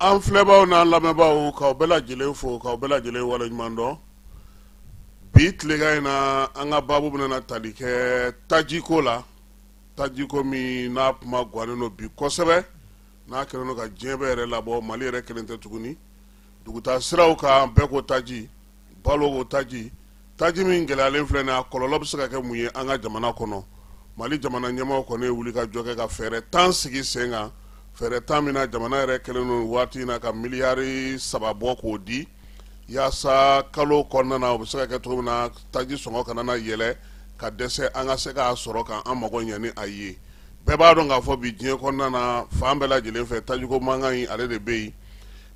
an filɛbaaw n'an lamɛnbaaw k'aw bɛɛ lajɛlen fo k'aw bɛɛ lajɛlen wale ɲuman dɔn bi tilegan in na an ka baabu bɛna tali kɛ tajiko la tajiko min n'a kuma gannen don bi kosɛbɛ n'a kɛlen don ka diɲɛ bɛɛ yɛrɛ labɔ mali yɛrɛ kelen tɛ tuguni dugutaa siraw kan bɛɛ ko taji balo ko taji taji min gɛlɛyalen filɛ nin a kɔlɔlɔ bɛ se ka kɛ mun ye an ka jamana kɔnɔ mali jamana ɲɛmaaw kɔni ye wuli ka jɔ kɛ ka fɛɛrɛ tan sigi sen kan fɛɛrɛ tan min na jamana yɛrɛ kɛlen don waati in na ka miliyari saba bɔ k'o di yaasa kalo kɔnɔna na o bɛ se ka kɛ cogo min na taji sɔngɔ kana na yɛlɛ ka dɛsɛ an ka se k'a sɔrɔ ka an mago ɲɛ ni a ye bɛɛ b'a dɔn k'a fɔ bi diɲɛ kɔnɔna na fan bɛɛ lajɛlen fɛ tajiko mankan in ale de bɛ yen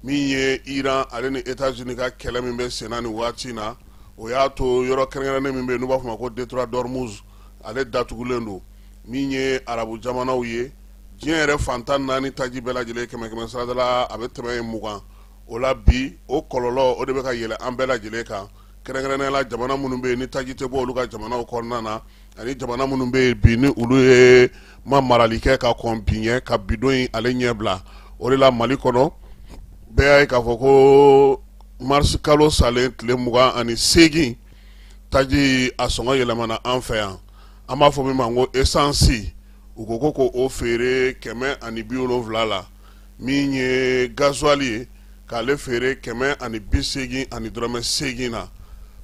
min ye iran ale ni États-Unis ka kɛlɛ min bɛ senna ni waati na o y'a to yɔrɔ kɛrɛnkɛrɛnnen min bɛ n'u b'a fɔ ma ko détroit d'Ormuz ale datugulen don min ye arabu jamanaw ye diɲɛ yɛrɛ fan tan ni naani taji bɛɛ lajɛlen kɛmɛ kɛmɛ sarada la a bɛ tɛmɛ yen mugan o la bi o kɔlɔlɔ o de bɛ ka yɛlɛ an bɛɛ lajɛlen kan kɛrɛnkɛrɛnnenya la jamana minnu bɛ yen ni taji tɛ bɔ olu ka jamanaw kɔnɔna na ani jamana minnu bɛ yen bi ni olu ye ma marali kɛ ka kɔn bi ɲɛ ka bi don in ale ɲɛbila o de la mali kɔnɔ bɛɛ y'a ye k'a fɔ ko marisi kalo salen tile mugan ani seegin taji a sɔngɔ yɛlɛmana an fɛ yan an b'a fɔ min ma ko esansi u ko ko ko o feere kɛmɛ ani bi wolonfila la min ye gazuwali ye k'ale feere kɛmɛ ani bi seegin ani dɔrɔmɛ seegin na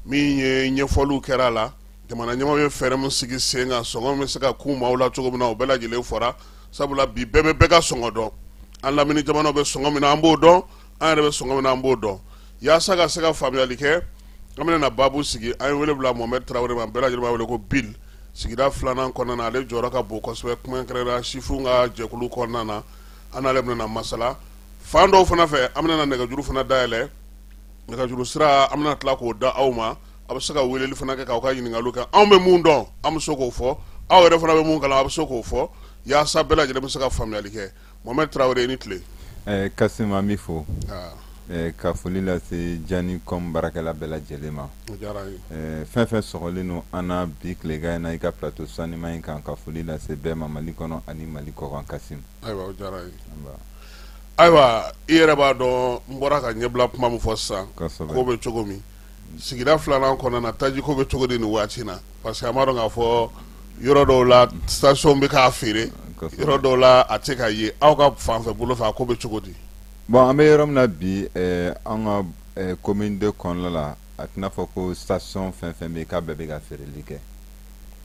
min ye ɲɛfɔliw kɛra a la Jamana ɲɛmaaw ye fɛɛrɛ min sigi sen kan sɔngɔn bɛ se ka kun maaw la cogo min na o bɛɛ lajɛlen fɔra sabula bi bɛɛ bɛ bɛɛ ka sɔngɔn dɔn an lamini jamanaw bɛ sɔngɔn min na an b'o dɔn an yɛrɛ bɛ sɔngɔn min na an b'o dɔn yaasa ka se ka faamuyali kɛ an bɛna na baabu sigi an ye wele bila Mohamed Tarawele ma bɛɛ lajɛlen b'a wele ko Bill sigida filanan kɔnɔna na ale jɔyɔrɔ ka bon kosɛbɛ kuma kɛrɛnkɛrɛnnenya sifinw ka jɛkulu kɔnɔna na an n'ale bɛna na masala fan dɔw fana fɛ an bɛna na nɛgɛjuru fana dayɛlɛ nɛgɛjuru sira an bɛna tila k'o da aw ma a bɛ se ka weleli fana kɛ k'aw ka ɲininkaliw kɛ anw bɛ mun dɔn an bɛ se k'o fɔ aw yɛrɛ fana bɛ mun kalama a bɛ se k'o fɔ yaasa bɛɛ lajɛlen bɛ se ka faamuyali kɛ Mohamed Tarawele i ni tile. Ɛɛ Kasim an b'i fo. Aa. Ɛɛ ka foli lase Djani com baarakɛla bɛɛ lajɛlen ma. O diyara an ye. Ɛɛ fɛn fɛn sɔgɔlen don an na bi tilegan in na i ka plateau saniman in kan ka foli lase bɛɛ ma Mali kɔnɔ ani Mali kɔkan Kasim. Ayiwa o diyara an ye. Anba. Ayiwa i yɛrɛ b'a dɔn n bɔra ka ɲɛbila kuma min fɔ sisan. Kosɛbɛ. Kow bɛ cogo min. sigida filanan kɔnɔna na tajiko bɛ cogo di nin waati na parce que an b'a dɔn k'a fɔ yɔrɔ dɔw la station bɛ k'a feere yɔrɔ dɔw la a tɛ ka ye aw ka fanfɛ bolo fɛ a ko bɛ cogo di bon an bɛ yɔrɔ min na bi eh, an ka eh, commune deux kɔnɔna la a tɛna fɔ ko station fɛn fɛn bɛ yen k'a bɛɛ bɛ ka feereli kɛ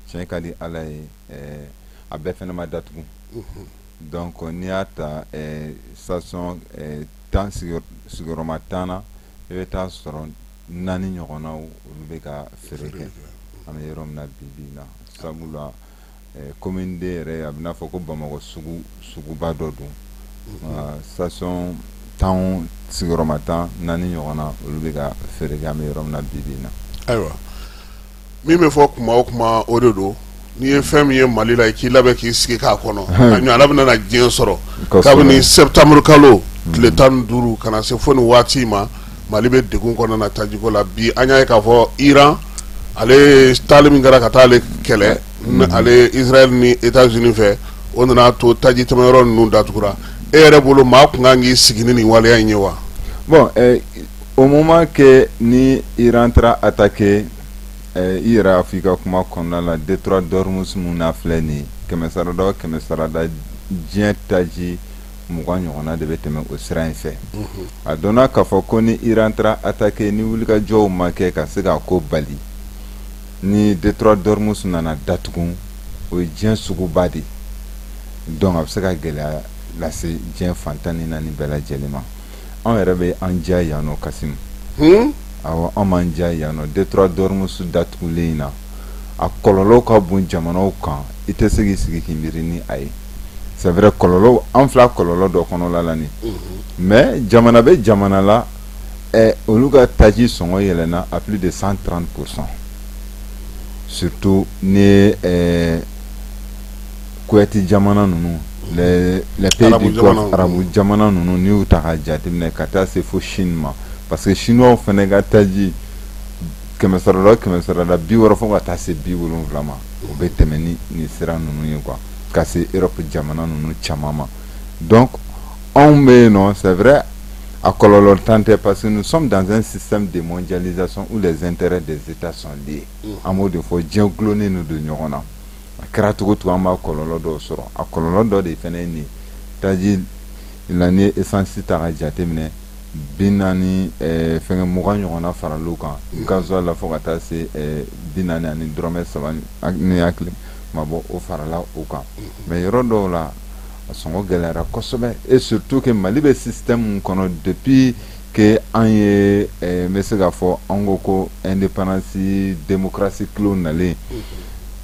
tiɲɛ ka di ala ye eh, a bɛɛ fana ma datugu mhm. donc n'i y'a ta eh, station eh, tan sigiyɔrɔma tan na i bɛ taa sɔrɔ naani ɲɔgɔn na olu bɛ ka feere kɛ an bɛ yɔrɔ min na bi bi na sabu la commune deux yɛrɛ a bɛ n'a fɔ ko bamakɔ suguba dɔ don station tan sigiyɔrɔma tan naani ɲɔgɔn na olu bɛ ka feere kɛ an bɛ yɔrɔ min na bi bi na ayiwa min bɛ fɔ tuma o tuma o de don n'i ye fɛn min ye mali la i k'i labɛn k'i sigi k'a kɔnɔ a ɲɔgɔnna bɛna na diɲɛ sɔrɔ kabini septembre kalo tile tan ni duuru ka na se fo nin waati in ma mali bɛ dɛgun kɔnɔna na tajiko la bi an y'a ye k'a fɔ iran ale taali min kɛra ka taa ale kɛlɛ ale israël ni états-unis fɛ o nana to taji tɛmɛyɔrɔ ninnu datugura e yɛrɛ bolo maa tun kan k'i sigi ni nin waleya in ye wa Au moment que ni iran taara attaquer i yɛrɛ y'a fɔ i ka kuma kɔnɔna la détroit d'ormuz min na filɛ nin kɛmɛ sarada kɛmɛ sarada diɲɛ taji mugan ɲɔgɔnna de bɛ tɛmɛ o sira in fɛ a dɔnna k'a fɔ ko ni iran taara attaquer ni wulikajɔw ma kɛ ka se k'a ko bali ni détroit d'ormuz nana datugu o ye diɲɛ suguba de donc a bɛ se ka gɛlɛya lase diɲɛ fan tan ni naani bɛɛ lajɛlen ma anw yɛrɛ bɛ an diya yan nɔ kasimu awɔ an m'an diya yan nɔ détroit d'ormuz datugulen in na a kɔlɔlɔ ka bon jamanaw kan i tɛ se k'i sigi k'i miiri ni a ye c'est vrai kɔlɔlɔ an filɛ kɔlɔlɔ dɔ kɔnɔla la nin mais jamana bɛ jamana la olu ka taji sɔngɔ yɛlɛna à plus de cent trente pour cent surtout ni Kuyate jamana ninnu arabu jamana ninnu n y'u ta jateminɛ ka taa se fo sini ma parce que sini fana ka taji kɛmɛsɔrɔ kɛmɛsɔrɔla bi wɔɔrɔ fɔ ka taa se bi wolon wolonwula ma u bɛ tɛmɛ ni ni sira ninnu ye kuwa ka se e jamana ninnu caman ma dɔn anw bɛ yen nɔ sɛ wɛrɛɛrɛ a kɔlɔn tan tɛ parce que ni sɔn dan sisan de jazson u la zte de seta sonden ye an b'o de fɔ diɲɛ dulonnen don ɲɔgɔn na a kɛra cogo cogo an b'a kɔlɔlɔ dɔw sɔrɔ a kɔlɔlɔ dɔ de fana ye nin taji la n'i ye esansi ta ka jateminɛ bi naani eh, fɛngɛ mugan ɲɔgɔnna farala o kan gasoil la fo ka taa se eh, bi naani ani dɔrɔmɛ saba ni n hakili ma bɔ o farala o kan mais mm-hmm. yɔrɔ dɔw la a sɔngɔ gɛlɛyara kosɛbɛ et surtout que mali bɛ système kɔnɔ depuis ke an ye n bɛ se k'a fɔ an ko ko n ni pananasi denmusosi kilo nalen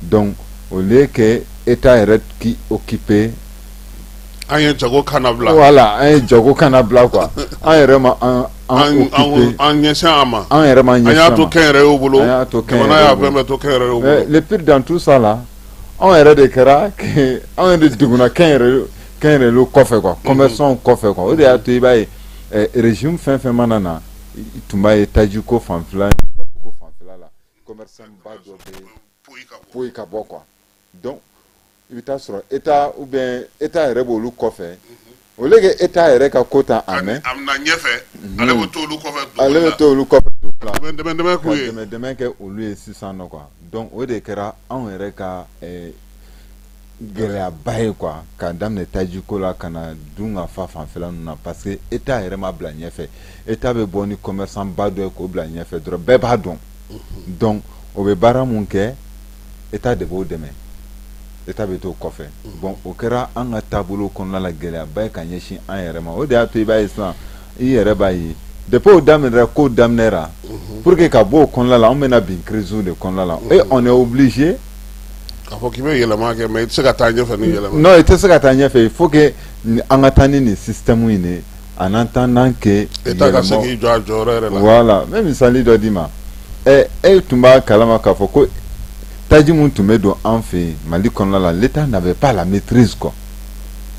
dɔn o le kɛ e t' yɛrɛ k' o kip an ye jago kana wala an ye jago kana bila qu an yɛrɛ ma an ɲɛ ma an yɛrɛ ma ɲɛ y'a to kɛ yɛrɛ y' bolo y'a to to p dan tu sa la anw yɛrɛ de kɛra anw yɛrɛ de degna kɛ yɛrɛ kɔfɛ kuwa kɔnbɛn sɔn kɔfɛ o de y'a to i b'a ye rez fɛn fɛn mana na tun b'a ye taji ko fan la foyi ka bɔ kuwa dɔn i bɛ taa sɔrɔ e u bɛ e yɛrɛ bɔ olu kɔfɛ o e t'a yɛrɛ ka ko ta a mɛ ɲɛfɛ ale bɛ to kɛ olu ye sisan dɔn o de kɛra anw yɛrɛ ka gɛlɛyaba ye quoi ka daminɛ taji ko la ka na dunkafa fanfɛla ninnu na parce que État yɛrɛ ma bila ɲɛfɛ État bɛ bɔ ni commerçant ba dɔ ye k'o bila ɲɛfɛ dɔrɔn bɛɛ b'a dɔn donc o bɛ baara min kɛ État de b'o dɛmɛ État bɛ t'o kɔfɛ bon o kɛra an ka taabolo kɔnɔna la gɛlɛyaba ye ka ɲɛsin an yɛrɛ ma o de y'a to i b'a ye sisan i yɛrɛ b'a ye depuis o daminɛra ko daminɛra mhm. pour que ka bɔ o kɔnɔna la an bɛna bin crise de kɔnɔna la mhm. et on est obligé k'a fɔ k'i bɛ yɛlɛma kɛ mais i tɛ se ka taa ɲɛfɛ ni yɛlɛma non i tɛ se ka taa ɲɛfɛ il faut que an ka taa ni nin système in de ye en attendant que État ka se k'i jɔ a jɔyɔrɔ yɛrɛ la voilà n bɛ misali dɔ d'i ma ɛ e tun b'a kalama k'a fɔ ko taji min tun bɛ don an fɛ yen Mali kɔnɔna la l'État n'avait pas la maîtrise quoi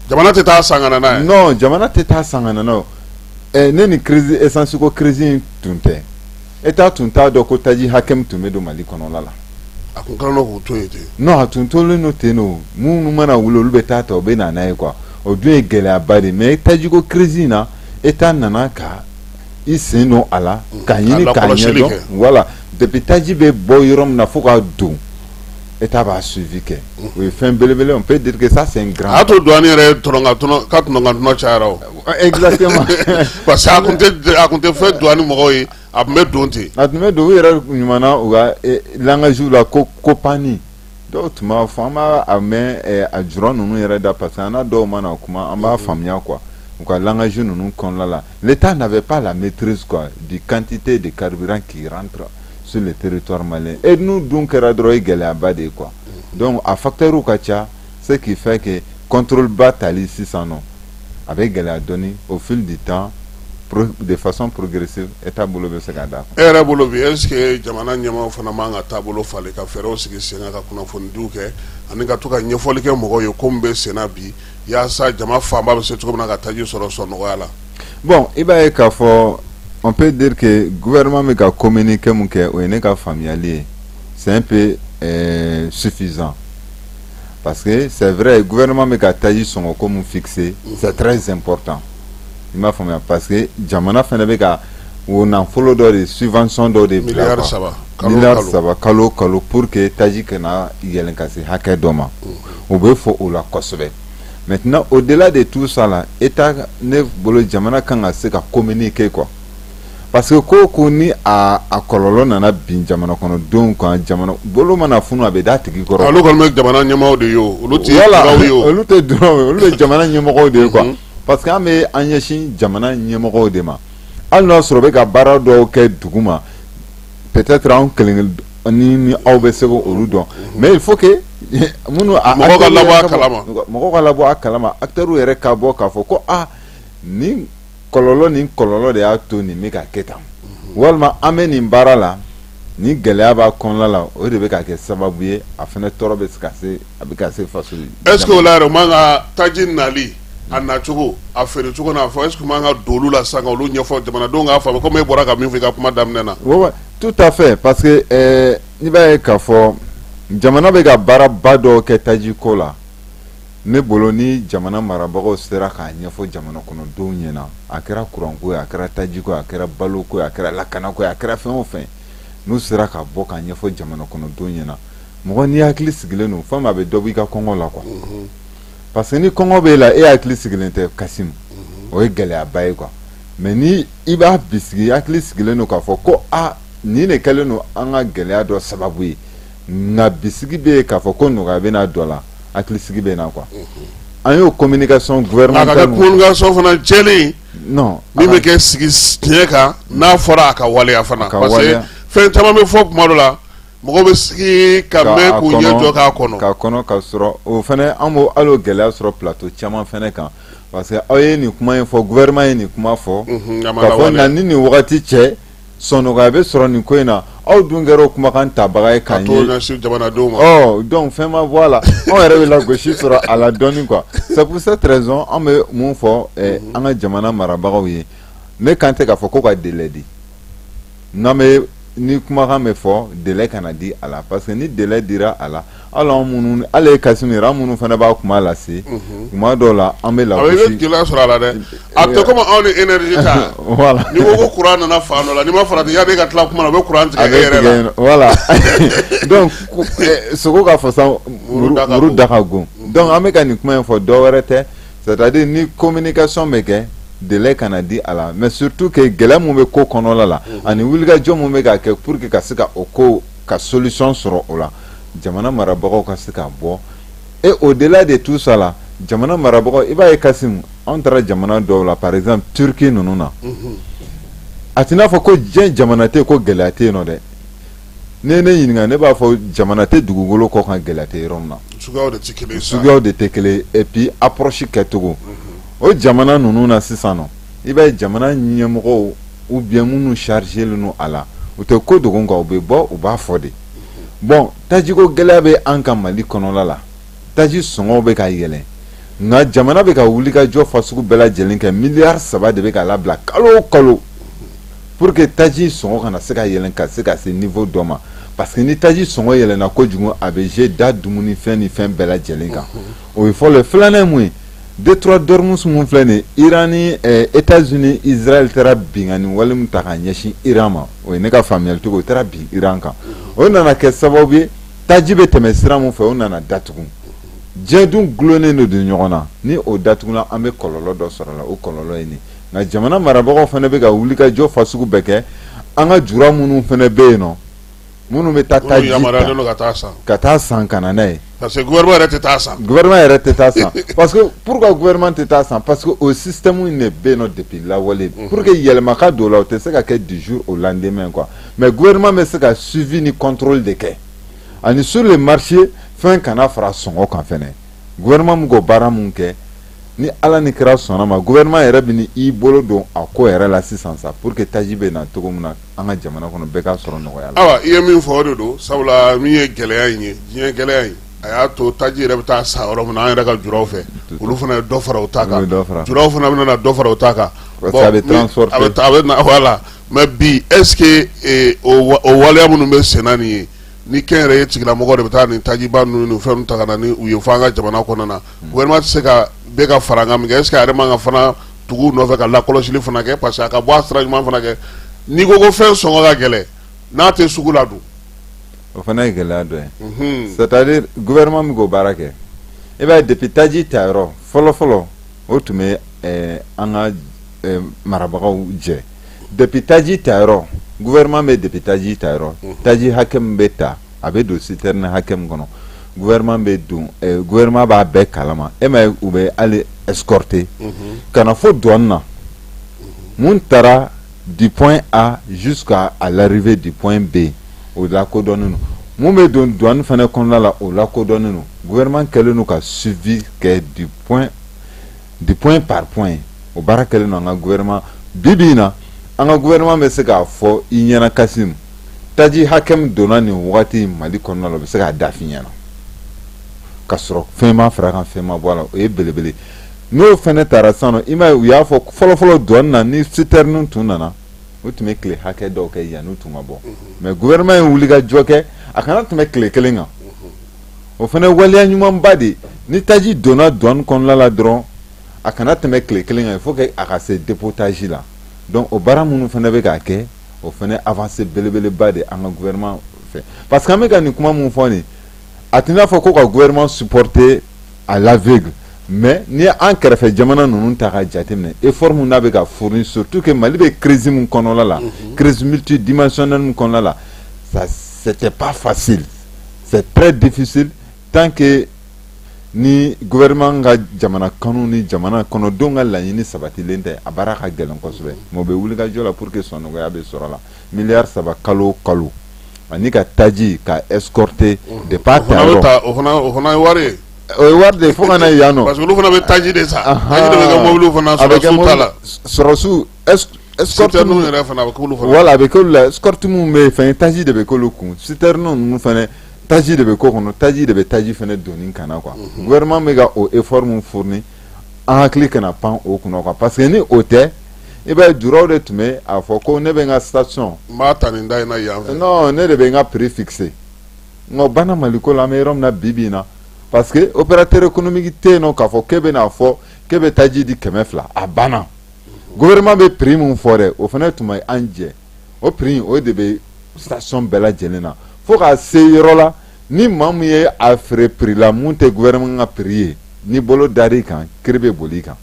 jamana tɛ taa san ka na n'a ye non jamana tɛ taa san ka na n'a ye ne ni crise essence ko crise in tun tɛ État tun t'a dɔn ko taji hakɛ min tun bɛ don mali kɔnɔna la a tun a tun tolen don ten don minnu mana wuli olu bɛ taa ta u bɛ na n'a ye quoi o dun ye gɛlɛyaba de mais tajiko crise in na État nana ka i sen don a la ka ɲini k'a ɲɛdɔn voilà depuis taji bɛ bɔ yɔrɔ min na fo ka don e t' b'a su kɛ o ye fɛn belebele pe duuruke sa sen a to dɔn yɛrɛ ca tun tɛ fɛn dɔn ni mɔgɔw ye a tun bɛ don ten a tun bɛ don u yɛrɛ ɲuman u ka lakasiw la ko ko panani dɔw tun b'a fɔ an b'a mɛ a juru ninnu yɛrɛ da parce que an dɔw ma na o kuma an b'a faamuya kuwa u ka lakasi ninnu kɔnɔna la L'Etat n'avait pas la maîtrise quoi, du quantité de carburant qui rentre sur le territoire malien. Et ninnu dun kɛra dɔrɔn ye gɛlɛyaba de ye quoi. Donc, a facteur ka ca, ce qui fait que contrôle ba tali sisan nɔ, a bɛ gɛlɛya dɔɔni au fil du temps, pro- de façon progressive, État bolo bɛ se ka d'a kan. E yɛrɛ bolo bi est ce que jamana ɲɛmaaw fana man ka taabolo falen ka fɛɛrɛw sigi sen kan ka kunnafonidiw kɛ ani ka to ka ɲɛfɔli kɛ mɔgɔw ye ko min bɛ sen na bi yaasa jama fanba bɛ se cogo min na ka taji sɔrɔ sɔn nɔgɔya la bon i b'a ye k'a fɔ on peut dire que gouvernement bɛ ka communiquer min kɛ o ye ne ka faamuyali ye c'est un peu suffisant parce que c'est vrai gouvernement bɛ ka taji sɔngɔ ko min fixer c'est très important i m'a faamuya parce que jamana fana bɛ ka o nafolo dɔ de subvention dɔ de bila miliyari saba kalo kalo pour que taji kana yɛlɛn ka se hakɛ dɔ ma o bɛ fɔ o la kosɛbɛ maintenant au delà de tout ça là État ne bolo jamana kan ka se ka communiquer quoi parce que ko ko ni a kɔlɔlɔ nana bin jamana kɔnɔdenw kan jamana bolo mana funu a bɛ da tigi kɔrɔ olu kɔni jamana ɲɛmɔgɔ de ye olu olu tɛ du olu bɛ jamana ɲɛmɔgɔw de ye quoi parce que an bɛ an ɲɛsin jamana ɲɛmɔgɔw de ma hali n'a sɔrɔ bɛ ka baara dɔw kɛ dugu ma peut-être an kelen kelen ni aw bɛ se k'olu dɔn mais il faut que minnu mɔgɔw ka labɔ a kalama acteurs yɛrɛ ka bɔ k'a fɔ ko aa nin kɔlɔlɔ ni kɔlɔlɔ de y'a to nin bɛ ka kɛ tan walima an bɛ nin baara la ni gɛlɛya b'a kɔnɔna la o de bɛ ka kɛ sababu ye a fana tɔɔrɔ bɛ se ka se a bɛ se faso est ce que o la yɛrɛ o man ka taji nali a nacogo a feere cogo n'a fɔ est ce que o man ka don olu la sisan ka olu ɲɛfɔ jamanadenw k'a faamu comme e bɔra ka min fɔ i ka kuma daminɛ na tout à fait parce que n'i b'a ye k'a fɔ jamana bɛ ka baaraba dɔw kɛ taji ko la ne bolo ni jamana marabagaw sera k'a ɲɛfɔ jamana kɔnɔdenw ɲɛna a kɛra kuranko ye a kɛra tajiko ye a kɛra baloko ye a kɛra lakanako ye a kɛra fɛn o fɛn n'u sera ka bɔ k'a ɲɛfɔ jamana kɔnɔdenw ɲɛna mɔgɔ n'i hakili sigilen don fɛn min a bɛ dɔ bɔ i ka kɔngɔ la quoi parce que ni kɔngɔ bɛ e la e hakili sigilen tɛ Kasimu o ye gɛlɛyaba ye quoi mais ni i b'a bisigi hakili sigilen don k'a fɔ ko aa nin de kɛlen don an ka gɛlɛya dɔ sababu ye nka bisigi bɛ yen k'a fɔ ko nɔgɔya bɛ na dɔ la hakili sigi bɛ na quoi an y'o communication fana jɛlen min bɛ kɛ sigi tiɲɛ kan n'a fɔra a ka waleya fana fɛn caman bɛ fɔ tuma dɔ la mɔgɔw bɛ sigi k'a kɔnɔ ka sɔrɔ o fana an b'o hali o gɛlɛya sɔrɔ plateau caman fana kan parce que aw ye nin kuma in fɔ gouvernement ye nin kuma fɔ k'a fɔ yan ni nin wagati cɛ sɔn nɔgɔya bɛ sɔrɔ nin ko in na aw dun kɛra o kumakan tabaga ye quoi donc fɛn ma bɔ a la anw yɛrɛ bɛ lagosi sɔrɔ a la dɔɔni quoi c'est pour cette raison an bɛ mun fɔ an ka jamana marabagaw ye ne kan tɛ k'a fɔ ko ka délai di n'an bɛ ni kumakan bɛ fɔ délai kana di a la parce que ni délai dira a la hali anw minnu hali e Kasimu yɛrɛ anw minnu fana b'a kuma lase tuma dɔw la an bɛ lagosi i bɛ gɛlɛya sɔrɔ a la dɛ a bɛ kɛ komi anw ni énergie ta voilà n'i ko ko courant nana fan dɔ la n'i ma farati yanni e ka tila kuma na u bɛ courant tigɛ e yɛrɛ la voilà donc sogo ka fasa muru da ka gon donc an bɛ ka nin kuma in fɔ dɔ wɛrɛ tɛ c'est à dire ni communication bɛ kɛ délai kana di a la mais surtout que gɛlɛya min bɛ ko kɔnɔla la mhm. ani wulikajɔ min bɛ ka kɛ pour que ka se ka o ko ka solution sɔrɔ o la jamana marabagaw ka se ka bɔ et au-delà de tout ça la jamana marabagaw i b'a ye Kasimu anw taara jamana dɔw la par exemple Turquie ninnu na mhm. a t'i n'a fɔ ko diɲɛ jamana tɛ ko gɛlɛya tɛ yen nɔ dɛ n ne ɲininka ne b'a fɔ jamana tɛ dugukolo kɔ kan gɛlɛya tɛ yɔrɔ min na suguyaw de tɛ kelen et puis approche kɛcogo o jamana ninnu na sisan nɔ i b'a ye jamana ɲɛmɔgɔw ou bien minnu chargélen don a la u tɛ ko dogo kan u bɛ bɔ u b'a fɔ de bon tajiko gɛlɛya bɛ an ka Mali kɔnɔla la taji sɔngɔw bɛ ka yɛlɛn nka jamana bɛ ka wulikajɔ fasugu bɛɛ lajɛlen kɛ miliyari saba de bɛ ka labila kalo o kalo pour que taji sɔngɔ kana se ka yɛlɛn ka se ka se niveau dɔ ma parce que ni taji sɔngɔ yɛlɛnna kojugu a bɛ je da dumunifɛn ni fɛn bɛɛ lajɛlen kan o ye fɔlɔ ye filanan ye mun ye détroit d'Ormuz mun filɛ nin ye Iran ni eh, États-Unis Israël taara binkanni wale min ta ka ɲɛsin Iran ma o ye ne ka faamuyali cogo o taara bin Iran kan o nana kɛ sababu ye taji bɛ tɛmɛ sira min fɛ o nana datugu diɲɛ dun dulonnen de don ɲɔgɔn na ni o datugula an bɛ kɔlɔlɔ dɔ sɔrɔ la o kɔlɔlɔ ye nin nka jamana marabagaw fana bɛ ka wulikajɔ fasugu bɛɛ kɛ an ka jura minnu fana bɛ yen nɔ minnu bɛ taa taji ka taa san ka na n'a ye parce que gouvernement yɛrɛ tɛ taa san gouvernement yɛrɛ tɛ taa san parce que pourquoi gouvernement tɛ taa san parce que o système in de bɛ yen nɔ depuis lawale pour que yɛlɛma ka don o la o tɛ se ka kɛ du jour au lendemain quoi mais gouvernement bɛ se ka suivi ni contrôle de kɛ ani sur le marché fɛn kana fara sɔngɔ kan fɛnɛ gouvernement min k'o baara mun kɛ ni ala ni kira sɔnna ma gouvernement yɛrɛ bɛ n'i bolo don a ko yɛrɛ la sisan sa pour que taji bɛ na cogo min na an ka jamana kɔnɔ bɛɛ ka sɔrɔ nɔgɔya la. awa i ye min fɔ o de don sabula min ye gɛlɛya in ye diɲɛ gɛlɛya in a y'a to taji yɛrɛ bɛ taa san yɔrɔ min na an yɛrɛ ka juraw fɛ olu fana ye dɔ fara u ta kan juraw fana bɛna dɔ fara u ta kan. parce que a bɛ transporter a bɛ na voilà. mais bi est ce que o waleya minnu bɛ sen na nin ye ni kɛnyɛrɛye tigilamɔgɔ de bɛ taa nin tajiba ninnu fɛn ta ka na n'u ye fɔ an ka jamana kɔnɔna na gouvernement tɛ se ka bɛɛ ka fara min kɛ est ce que a yɛrɛ man kan fana tugu nɔfɛ ka lakɔlɔsili fana kɛ parce que a ka bɔ a sira ɲuman fana kɛ n'i ko ko fɛn sɔngɔ ka gɛlɛn n'a tɛ sugu la dun o fana ye gɛlɛya dɔ ye c'est à dire gouvernement min k'o baara kɛ i b'a ye depuis taji ta yɔrɔ fɔlɔ fɔlɔ o tun bɛ eh, an ka eh, marabagaw jɛ depuis taji ta yɔrɔ gouvernement bɛ depuis taji ta yɔrɔ mhm. taji hakɛ min bɛ ta a bɛ don citerne hakɛ min kɔnɔ gouvernement b'a dɔn eh, gouvernement b'a bɛɛ kalama e ma ye u bɛ hali escorter mhm. ka na fo douane na mhm. mun taara du point A jusqu'à l'arrivée du point B o lakodɔnnen don mun bɛ don douane fana kɔnɔna la o lakodɔnnen don gouvernement kɛlen don ka suivi kɛ du point de point par point o baara kɛlen don an ka gouvernement bi bi in na an ka gouvernement bɛ se k'a fɔ i ɲɛna Kasim taji hakɛ min donna nin wagati Mali kɔnɔna la u bɛ se k'a da f'i ɲɛna ka sɔrɔ fɛn ma fara a kan fɛn ma bɔ a la o ye belebele n'o fana taara sisan i m'a ye u y'a fɔ fɔlɔfɔlɔ douane na ni citerne tun nana u tun bɛ tile hakɛ dɔw kɛ yanni u tun ka bɔ mais gouvernement ye wulikajɔ kɛ a kana tɛmɛ tile kelen kan o fana waleya ɲumanba de ni taji donna douane kɔnɔla la dɔrɔn a kana tɛmɛ tile kelen kan il faut que a ka se dépotage la donc o baara minnu fana bɛ k'a kɛ o fana avancée belebeleba de an ka gouvernement fɛ parce que an bɛ ka nin kuma min fɔ nin a tɛna n'a fɔ ko ka gouvernement supporter à l'aveugle mais n'i ye an kɛrɛfɛ jamana ninnu ta ka jateminɛ effort min n'a bɛ ka fournir surtout que Mali bɛ crise min kɔnɔla la crise multidimensionnelle min kɔnɔla la c'était pas facile C'est très difficile tant que ni gouvernement ka jamana kanu ni jamana kɔnɔdenw ka laɲini sabatilen tɛ a baara ka gɛlɛn kosɛbɛ mais u bɛ wulikajɔ la pour que sɔnnɔgɔya bɛ sɔrɔ la miliyari saba kalo o kalo ani ka taji ka escorter depuis a ta yɔrɔ o fana bɛ ta o fana o fana ye wari ye o ye wari de ye fo ka na yan nɔ parce que olu fana bɛ taji de san taji de bɛ kɛ mobiliw fana sɔrɔsiw ta la sɔrɔsiw ninnu yɛrɛ fana bɛ k'olu fana voilà a bɛ k'olu la escorte min bɛ fɛn taji de bɛ k'olu kun citerne ninnu fana taji de bɛ k'o kɔnɔ taji de bɛ taji fana doni ka na quoi gouvernement bɛ ka o effort min fournir an hakili kana pan o kunna quoi parce que ni o tɛ i b'a ye juraw de tun bɛ a fɔ ko ne bɛ n ka station n b'a ta nin da in na yan fɛ ne de bɛ n ka prix fixer nka bana Mali ko la an bɛ yɔrɔ min na bi bi na parce que opérateur économique tɛ yen nɔ k'a fɔ k'e bɛna fɔ k'e bɛ taji di kɛmɛ fila a banna gouvernement bɛ prix min fɔ dɛ o fana tun b'an jɛ o prix o de bɛ station bɛɛ lajɛlen na fo ka se yɔrɔ la ni maa min ye a feere prix la mun tɛ gouvernement ka prix ye ni bolo dar'i kan kiri bɛ boli i kan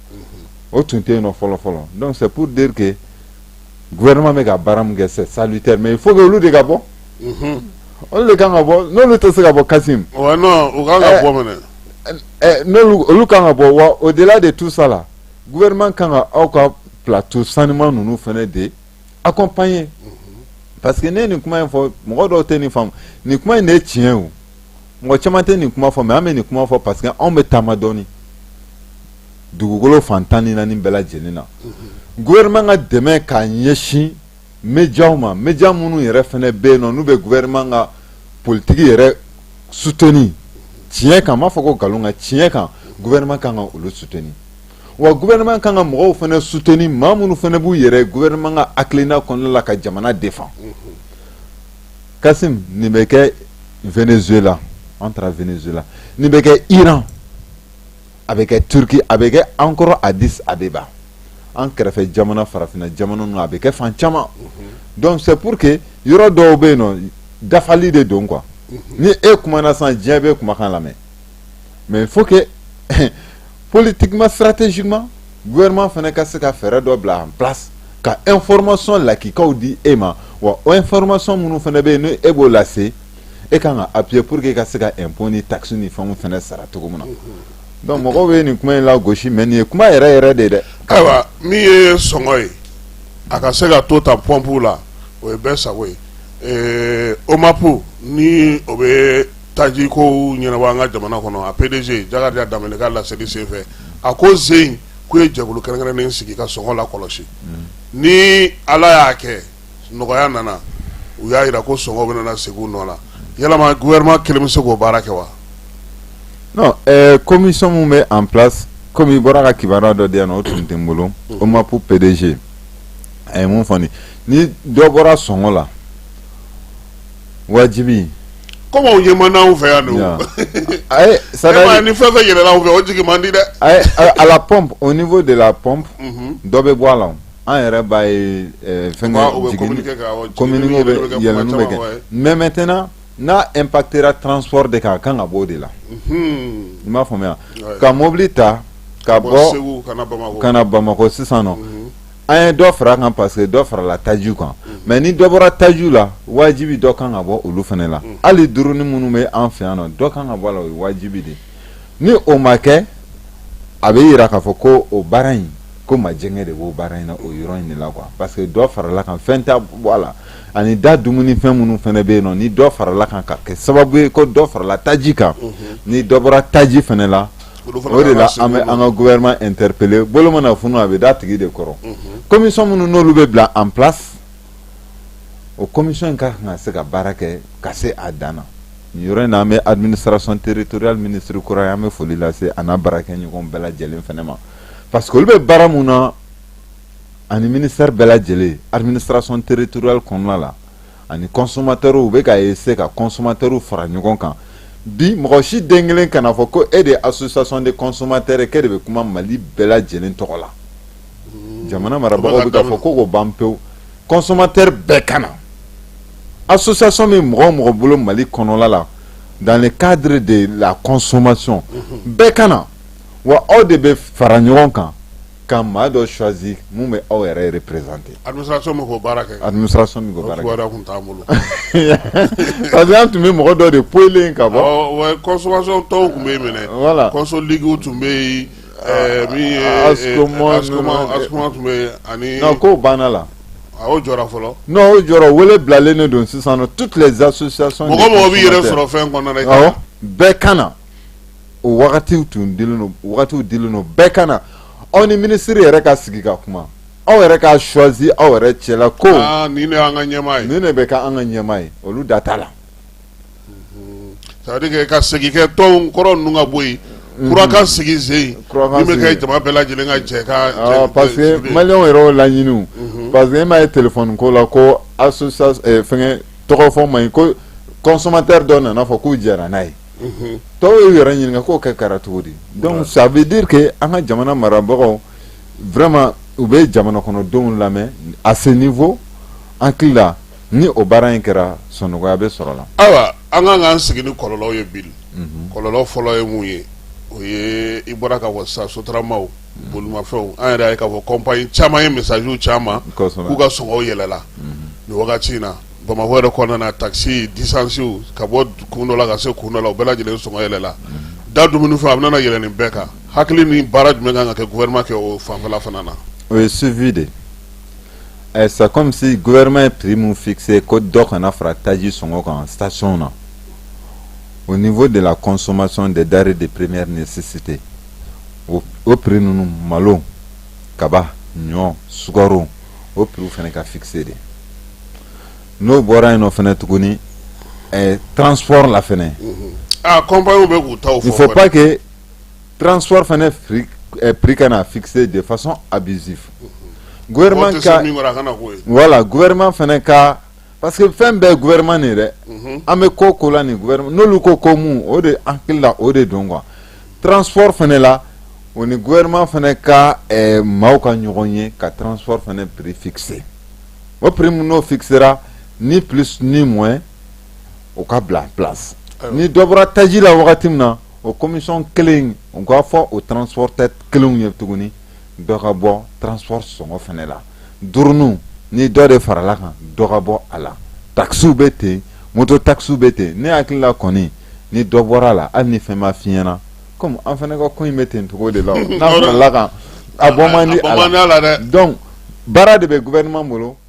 o tun tɛ yen nɔ fɔlɔ fɔlɔ donc c'est pour dire que gouvernement bɛ ka baara min kɛ c'est salutaire mais il faut que olu de ka bɔ olu de kan ka bɔ n'olu tɛ se ka bɔ Kasim. wa non u kan ka bɔ mɛnɛ. n'olu olu kan ka bɔ wa au-delà de tout ça là. gouvernement kan ka aw ka plateau sanuman ninnu fana de accompagner parce que ne ye nin kuma in fɔ mɔgɔ dɔw tɛ nin faamu nin kuma in de ye tiɲɛ o mɔgɔ caman tɛ nin kuma fɔ mais an bɛ nin kuma fɔ parce que anw bɛ taama dɔɔni dugukolo fan tan ni naani bɛɛ lajɛlen na gouvernement ka dɛmɛ k'a ɲɛsin médiaw ma média minnu yɛrɛ fana bɛ yen nɔ n'u bɛ gouvernement ka politique yɛrɛ soutenir tiɲɛ kan n m'a fɔ ko nkalon kan tiɲɛ kan gouvernement kan ka olu soutenir wa gouvernement kan ka mɔgɔw fana soutenir maa minnu fana b'u yɛrɛ gouvernement ka hakilina kɔnɔna la ka jamana défendre kasimu nin bɛ kɛ venezuela an taara venezuela nin bɛ kɛ iran a bɛ kɛ turquie a bɛ kɛ encore addis abeba an kɛrɛfɛ jamana farafinna jamana ninnu a bɛ kɛ fan caman donc c'est pour que yɔrɔ dɔw bɛ yen nɔ dafali de don quoi ni e kumana sisan diɲɛ bɛ kumakan lamɛn mais il faut que politiquement stratégiquement gouvernement fana ka se ka fɛɛrɛ dɔ bila en place ka information lakikaw di e ma wa o information minnu fana bɛ yen n' e b'o lase e ka kan ka appuyer pour que e ka se ka impôt ni taxe ni fɛnw fana sara cogo min na donc mɔgɔw bɛ nin kuma in lagosi mais nin ye kuma yɛrɛ yɛrɛ de ye dɛ. ayiwa min ye sɔngɔ ye a ka se ka to ta pɔnpu la o ye bɛɛ sago ye ɛɛ omapu ni o bɛ taji kow ɲɛnabɔ an ka jamana kɔnɔ a pdg jakariya danbɛlɛ ka laseli senfɛ a ko zen k'u ye jɛkulu kɛrɛnkɛrɛnnen sigi ka sɔngɔ lakɔlɔsi ni ala y'a kɛ. nɔgɔya nana u y'a jira ko sɔngɔ bɛ na segin u nɔ la yalama gouvernement kelen bɛ se k'o baara kɛ wa non commission min bɛ en place comme i bɔra ka kibaruya dɔ di yan o tun tɛ n bolo omapu pdg a ye mun fɔ ni dɔ bɔra sɔngɔ la wajibi comme ye man fɛ yan don sara ni fɛn fɛn yɛlɛla u fɛ o jigin man di dɛ à la pompe au niveau de la pompe dɔ bɛ bɔ a la an yɛrɛ b'a ye eh, fɛn Kuma, o bɛ jigin- communiqué ka, awɔ, communiqué jiginni bɛ bɛ kɛ kuma yɛlɛnni bɛ caman, kɛ ouais. mais maintenant n'a impactera transport de kan a kan ka bɔ o de la Hmm. i m'a faamuya Ouais. ka mobili ta ka Bɔ bɔ Segu ka na Bamakɔ. ka na bamakɔ sisan nɔ Mhm. an ye dɔ fara a kan parce que dɔ farala tajiw kan mais ni dɔ bɔra tajiw la wajibi dɔ kan ka bɔ olu fana la hali duruni minnu bɛ an fɛ yan nɔ dɔ kan ka bɔ a la o ye wajibi de ye ni o ma kɛ a bɛ jira k'a fɔ ko o baara in ko majɛngɛ de b'o baara in na o yɔrɔ in de la quoi parce que dɔ farala kan fɛn tɛ bɔ a la ani da dumuni fɛn minnu fana bɛ yen nɔ ni dɔ farala kan ka kɛ sababu ye ko dɔ farala taji kan ni dɔ bɔra taji fana la o de la an bɛ an ka gouvernement interpeller bolo mana funu a bɛ d'a tigi de kɔrɔ commission minnu n'olu bɛ bila en place o commission in ka kan ka se ka baara kɛ ka se a dan Yɔrɔ in n'an bɛ administration territoriale ministre kura ye an bɛ foli lase a n'a baarakɛɲɔgɔn bɛɛ lajɛlen fana ma parce que olu bɛ baara min na ani ministère bɛɛ lajɛlen administration territoriale kɔnɔna la ani consommateurw u bɛ ka essayer ka consommateurw fara ɲɔgɔn kan bi mɔgɔ si den kelen kana fɔ ko e de ye association de consommateurs k'e de bɛ kuma mali bɛɛ lajɛlen tɔgɔ la jamana marabagaw bɛ k'a fɔ k'o ko ban pewu consommateur bɛɛ ka na association bɛ mɔgɔ o mɔgɔ bolo mali kɔnɔla la dans le cadre de la consommation mhm. bɛɛ ka na wa aw de bɛ fara ɲɔgɔn kan ka maa dɔ choisir min bɛ aw yɛrɛ représenter administration bɛ k'o baara kɛ administration bɛ k'o baara kɛ o tun t'an bolo parce que an tun bɛ mɔgɔ dɔ de poyilen ka bɔ consommation tɔnw tun bɛ yen min ye voilà Consoligue tun bɛ yen ko banna lajɔ fɔlɔ non o jɔra wele bilalen de don sisan toutes les associations mɔgɔ o mɔgɔ b'i yɛrɛ sɔrɔ fɛn kɔnɔ bɛɛ ka na o wagatiw tun dilen don wagatiw dilen don bɛɛ ka na aw ni ministre yɛrɛ ka sigi ka kuma aw yɛrɛ ka choisir aw yɛrɛ cɛ la ko nin de bɛ kɛ an ka ɲɛmaa ye olu da t'a la salikɛ ka segin tɔn kɔrɔ ninnu ka bɔ yenurakan sigi sen kɛ jama bɛɛ lajɛlen ka cɛ ka pa mali yɛrɛ laɲini pa que e ma ye t ko la ko fɛn tɔgɔ fɔ ma ko kɔsɔnma tɛ dɔ nana fɔ k'u jɛra n'a ye tɔw y ye yɛrɛ ɲini k'o kɛ kɛra cogo di dɔnku sabubike an ka jamana marabagaw vma u bɛ jamana kɔnɔdenw lamɛn a sen nin fɔ an hakili la ni o baara in kɛra sɔnɔgɔya bɛ sɔrɔ a la ayiwa an kan k'an sigi ni kɔlɔlɔw ye bi kɔlɔlɔ fɔlɔ ye mun ye o ye i bɔra k'a fɔ sisan sotaramaw bolimafɛnw an yɛrɛ y'a ye k'a fɔ compagnie caman ye messagew caman k'u ka sɔngɔw yɛlɛla nin wagati in na bamakɔ yɛrɛ kɔnɔna na taxi distancew ka bɔ kun dɔ la ka se kun dɔ la o bɛɛ lajɛlen sɔngɔ yɛlɛla da dumunifɛn a bɛna yɛlɛ nin bɛɛ kan hakili ni baara jumɛn kan ka kɛ gouvernement kɛ o fanfɛla fana na o ye suivi de ɛ c'est comme si gouvernement ye prix min fixer ko dɔ kana fara taji sɔngɔ kan stationw na au niveau de la consommation des denrées de première nécessité o, o prix ninnu malo kaba ɲɔ sukaro o prix fana ka fixer de n'o bɔra yen nɔ fana tuguni ɛ transport la fana. Mm -hmm. ah compagnie bɛ k'u taw fɔ. il faut pas que Transport fana prix kana fixer de façon abusive gouvernement ka voilà gouvernement fana ka parce que fɛn bɛɛ gouvernement de ye dɛ mhm. an bɛ ko o ko la ni gouvernement n'olu ko ko mun o de an hakili la o de don quoi transport fana la o ni gouvernement fana ka eh, maaw ka ɲɔgɔn ye ka transport fana prix fixer o prix mun n'o fixera ni plus ni moins o ka bila en place ni dɔ bɔra taji la wagati min na o commission kelen u k'a fɔ o transporteur kelenw ye tuguni dɔ ka bɔ transport sɔngɔ fana la duuruninw ni dɔ de farala kan dɔ ka bɔ a la takisiw bɛ ten moto takisiw bɛ ten ne hakili la kɔni ni dɔ bɔra a la hali ni fɛn ma fiɲɛna kɔmi an fana ka ko in bɛ ten cogo de la n'a farala kan a bɔ man di a la dɛ donc baara de bɛ gouvernement bolo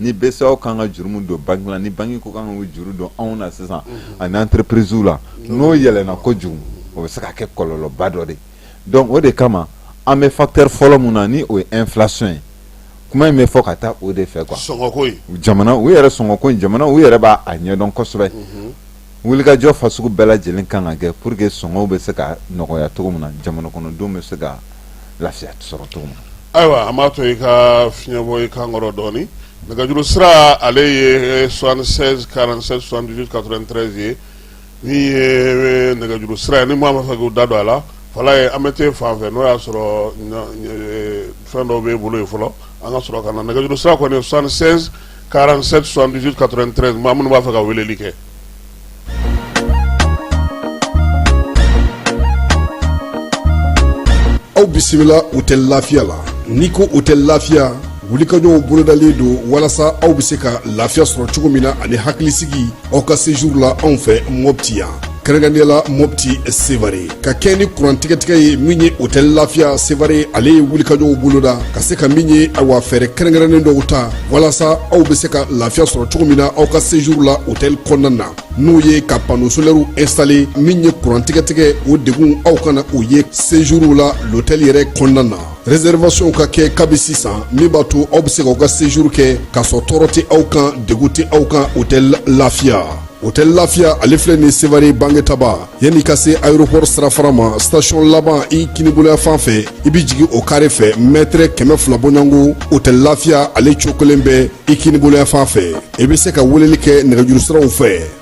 ni BCEAO ka kan ka juru mun don banque la ni banque ko kan ka juru don anw na sisan ani entreprisew la n'o yɛlɛna kojugu o bɛ se ka kɛ kɔlɔlɔba dɔ de donc o de kama an bɛ facteur fɔlɔ min na ni o ye inflation ye kuma in bɛ fɔ ka taa o de fɛ quoi jamana u yɛrɛ sɔngɔko in jamana u yɛrɛ b'a ɲɛdɔn kosɛbɛ wulikajɔ fasugu bɛɛ lajɛlen kan ka kɛ pour que sɔngɔw bɛ se ka nɔgɔya cogo min na jamana kɔnɔdenw bɛ se ka lafiya sɔrɔ cogo min na ayiwa an b'a to i ka fiɲɛbɔ i kan kɔrɔ dɔɔni nɛgɛjuru sira ale ye 76 47 78 93 ye min ye nɛgɛjuru sira ye ni maa b'a fɛ k'u da don a la Falaye an bɛ t'e fan fɛ n'o y'a sɔrɔ fɛn dɔw b'e bolo ye fɔlɔ an ka sɔrɔ ka na nɛgɛjuru sira kɔni 76 47 78 93 maa minnu b'a fɛ ka weleli kɛ. aw bisimila hôtel lafiya la n'i ko hôtel lafiya wulikajɔw bolodalen don walasa aw bɛ se ka lafiya sɔrɔ cogo min na ani hakilisigi aw ka séjour la anw fɛ mɔpti yan kɛrɛnkɛrɛnnenya la mɔpti sevare ka kɛɲɛ ni kuran tigɛtigɛ ye min ye hôtel lafiya sevare ale ye wulikajɔw boloda ka se ka min ye awa fɛɛrɛ kɛrɛnkɛrɛnnen dɔw ta walasa aw bɛ se ka lafiya sɔrɔ cogo min na aw ka séjour la hôtel kɔnɔna na n'o ye ka panneau solaire installer min ye kuran tigɛtigɛ o degun aw kana o ye séjour la l'hôtel yɛrɛ kɔnɔna na Réservationw ka kɛ kabi sisan min b'a to aw bɛ se k'aw ka séjour kɛ k'a sɔrɔ tɔɔrɔ tɛ aw kan degun tɛ aw kan hôtel lafiya hôtel lafiya ale filɛ nin sevare bangetaba yanni ka se aéroport sirafara ma station laban i kiniboloya fan fɛ i bɛ jigin o carré fɛ mètre kɛmɛ fila bɔɲɔgɔnko hôtel lafiya ale cokolen bɛ i kiniboloya fan fɛ i bɛ se ka weleli kɛ nɛgɛjurusiraw fɛ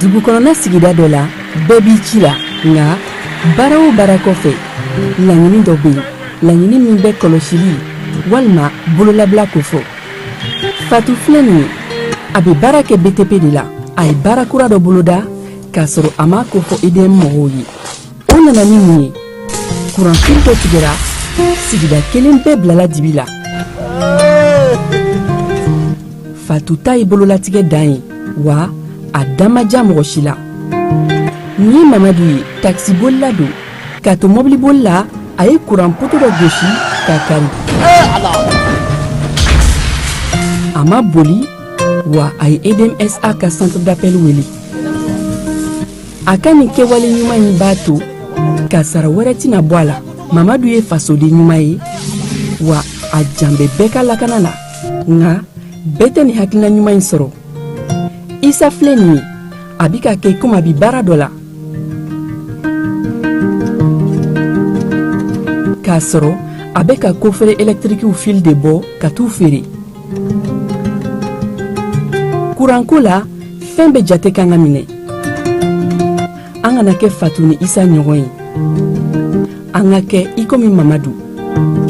dugu kɔnɔna sigida dɔ la bɛɛ b'i ci la nka baara o baara kɔfɛ laɲini dɔ bɛ yen laɲini min bɛ kɔlɔsili walima bololabila ko fɔ fatu filɛ nin ye a bɛ baara kɛ btp de la a ye baara kura dɔ boloda k'a sɔrɔ a m'a ko fɔ edm mɔgɔw ye o nana ni mun ye kuranfili dɔ tigɛra sigida kelen bɛɛ bilala dibi la fatu ta ye bololatigɛ dan ye wa a dan ma ja mɔgɔ si la nin ye mamadu ye takisibolila don k'a to mɔbiliboli la a ye kuran poto dɔ gosi k'a kari a ma boli wa a ye edmsa ka centre d'appel wele a ka nin kɛwale ɲuman in b'a to kasaara wɛrɛ tɛna bɔ a la mamadu ye fasoden ɲuman ye wa a jan bɛ bɛɛ ka lakana la nka bɛɛ tɛ nin hakilina ɲuman in sɔrɔ isa filɛ nin ye a bi ka kɛ komi a bi baara dɔ la k'a sɔrɔ a bɛ ka kofere ɛlɛtirikiw fili de bɔ ka t'u feere kuranko la fɛn bɛɛ jate ka kan ka minɛ an kana kɛ fatu ni isa ɲɔgɔn ye an ka kɛ i komi mamadu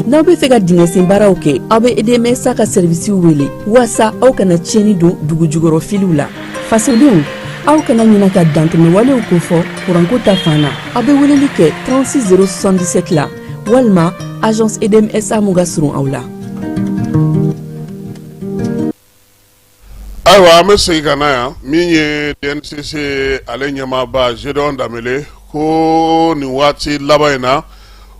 n'aw bɛ fɛ ka dingɛsen baaraw kɛ aw bɛ edmsa ka sɛrivisiw wele walasa aw kana tiɲɛni don dugu jukɔrɔ filiw la fasodenw aw kana ɲina ka dantɛmɛwalew kofɔ kuranko ta fan na aw bɛ weleli kɛ 36 077 la walima agence edmsa mun ka surun aw la ayiwa an bɛ segin ka na yan min ye dncc ale ɲɛmaaba zedion danbele ko nin waati laban in na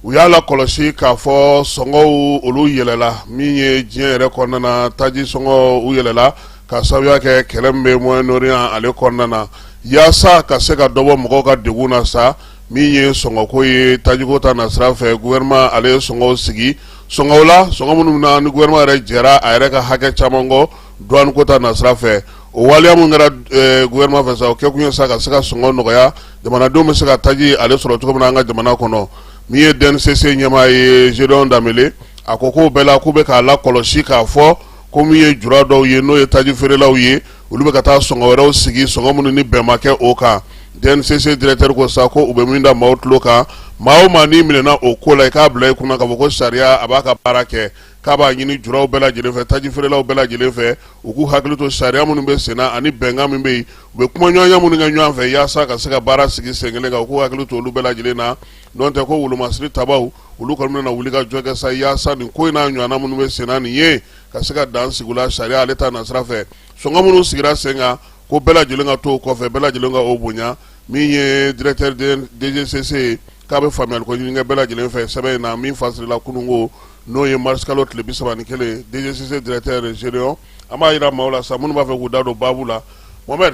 u y'a lakɔlɔsi k'a fɔ sɔngɔw olu yɛlɛla min ye diɲɛ yɛrɛ kɔnɔna na taji sɔngɔ u yɛlɛla ka sabuya kɛ kɛlɛ min bɛ moyen orient ale kɔnɔna na yaasa ka se ka dɔ bɔ mɔgɔw ka degun na sa min ye sɔngɔko ye tajiko ta nasira fɛ gouvernement ale ye sɔngɔw sigi sɔngɔ la sɔngɔ minnu na ni gouvernement yɛrɛ jɛra a yɛrɛ ka hakɛ caman kɔ douane ko ta nasira fɛ o waleya mun kɛra eh, gouvernement fɛ sa o kɛ kun ye sa ka se ka sɔngɔ nɔgɔya jamanadenw bɛ se ka taji ale sɔrɔ cogo min na an ka jamana kɔnɔ min ye dncc ɲɛmaa ye zedion danbele a ko k'o bɛɛ la k'u bɛ k'a lakɔlɔsi k'a fɔ ko min ye jura dɔw ye n'o ye taji feerelaw ye olu bɛ ka taa sɔngɔ wɛrɛw sigi sɔngɔ minnu ni bɛn ma kɛ o kan dncc directeur ko sa ko u bɛ min da maaw tulo kan maa o maa n'i minɛna o ko la i k'a bila i kunna k'a fɔ ko sariya a b'a ka baara kɛ k'a b'a ɲini juraw bɛɛ lajɛlen fɛ taji feerelaw bɛɛ lajɛlen fɛ u k'u hakili to sariya minnu bɛ senna ani bɛnkan min bɛ yen u bɛ kumaɲɔgɔnya minnu kɛ ɲɔgɔn fɛ yaasa ka se ka baara sigi sen kelen kan u k'u hakili to olu bɛɛ lajɛlen na n'o tɛ ko wolomasiri tabaw olu kɔni bɛna wuli ka jɔ kɛ sa yaasa nin ko in n'a ɲɔgɔnna minnu bɛ senna nin ye ka se ka dan sigi u la sariya ale ta nasira fɛ sɔngɔ minnu sigira sen kan ko bɛɛ lajɛlen ka to o kɔfɛ bɛɛ lajɛlen ka o bonya min ye directeur dgcc ye k'a bɛ faamuyali ko ɲini kɛ bɛɛ lajɛlen fɛ sɛbɛn in na min fasirila kununko n'o ye marisikalo tile bisaba ni kelen dgcc directeur zedion an b'a yira maaw la sa minnu b'a fɛ k'u da don baabu la mɔ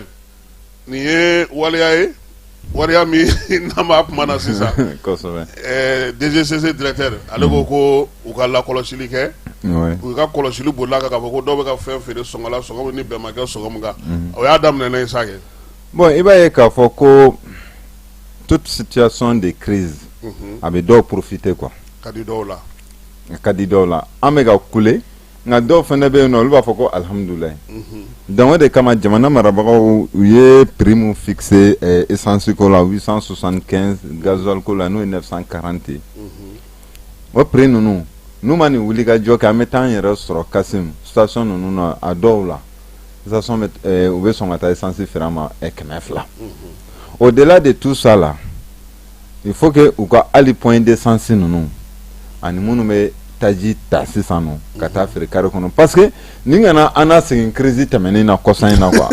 nin ye waleya ye waleya min n'an b'a kuma na sisan DGCC directeur ale ko ko u ka lakɔlɔsili kɛ u ka kɔlɔsili bolila kan k'a fɔ ko dɔw bɛ ka fɛn feere sɔngɔ la sɔngɔ min ni bɛn ma kɛ sɔngɔ min kan o y'a daminɛ ne ye sa kɛ bon i b'a ye k'a fɔ ko toute situation de crise a bɛ dɔw profiter quoi ka di dɔw la ka di dɔw la an bɛ ka kule nka dɔw fana bɛ yen nɔ olu b'a fɔ ko alihamudulilahi donc o de kama jamana marabagaw u ye prix min fixé essence ko la huit cent soixante-quinze gasoil ko la n'o ye neuf cent quarante ye o prix ninnu n'u ma nin wuli ka jɔ kɛ an bɛ taa an yɛrɛ sɔrɔ Kasim station ninnu na a dɔw la u bɛ sɔn ka taa essence feere an ma kɛmɛ fila au delà de tout ça là il faut que u ka hali point d'essence ninnu ani minnu bɛ taji ta sisan nɔ ka taa feere kare kɔnɔ parce que nin kana an na segin crise tɛmɛnen na kɔsa in na quoi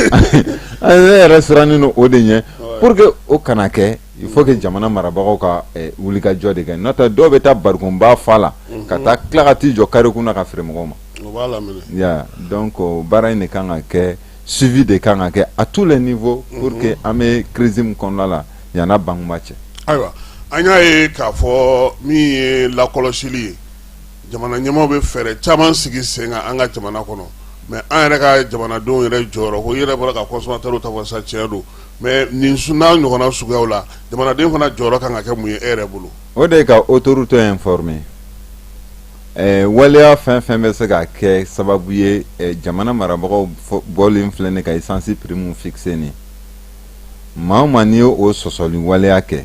ne yɛrɛ sirannen don o de ɲɛ pour que o kana kɛ il faut que jamana marabagaw ka eh, wulikajɔ de kɛ n'o tɛ dɔw bɛ taa barikonba fa la ka taa tila ka t'i jɔ kare kun na ka feere mɔgɔw ma donc baara in de kan ka kɛ suivi de kan ka kɛ à tous les niveaux pour que an bɛ crise min kɔnɔna la yan a banba cɛ ayiwa an y'a ye k'a fɔ min ye lakɔlɔsili ye jamana ɲɛmaaw bɛ fɛɛrɛ caman sigi sen kan an ka jamana kɔnɔ mais an yɛrɛ ka jamanadenw yɛrɛ jɔyɔrɔ ko i yɛrɛ bɔra ka consommateurs ta fɔ sa tiɲɛ don mais nin n'a ɲɔgɔnna suguyaw la jamanaden fana jɔyɔrɔ kan ka kɛ mun ye e yɛrɛ bolo o de ka autorité informer waleya fɛn fɛn bɛ se ka kɛ sababu ye jamana marabagaw bɔlen filɛ nin ka essence prix min fixé maa o maa n'i ye o sɔsɔli waleya kɛ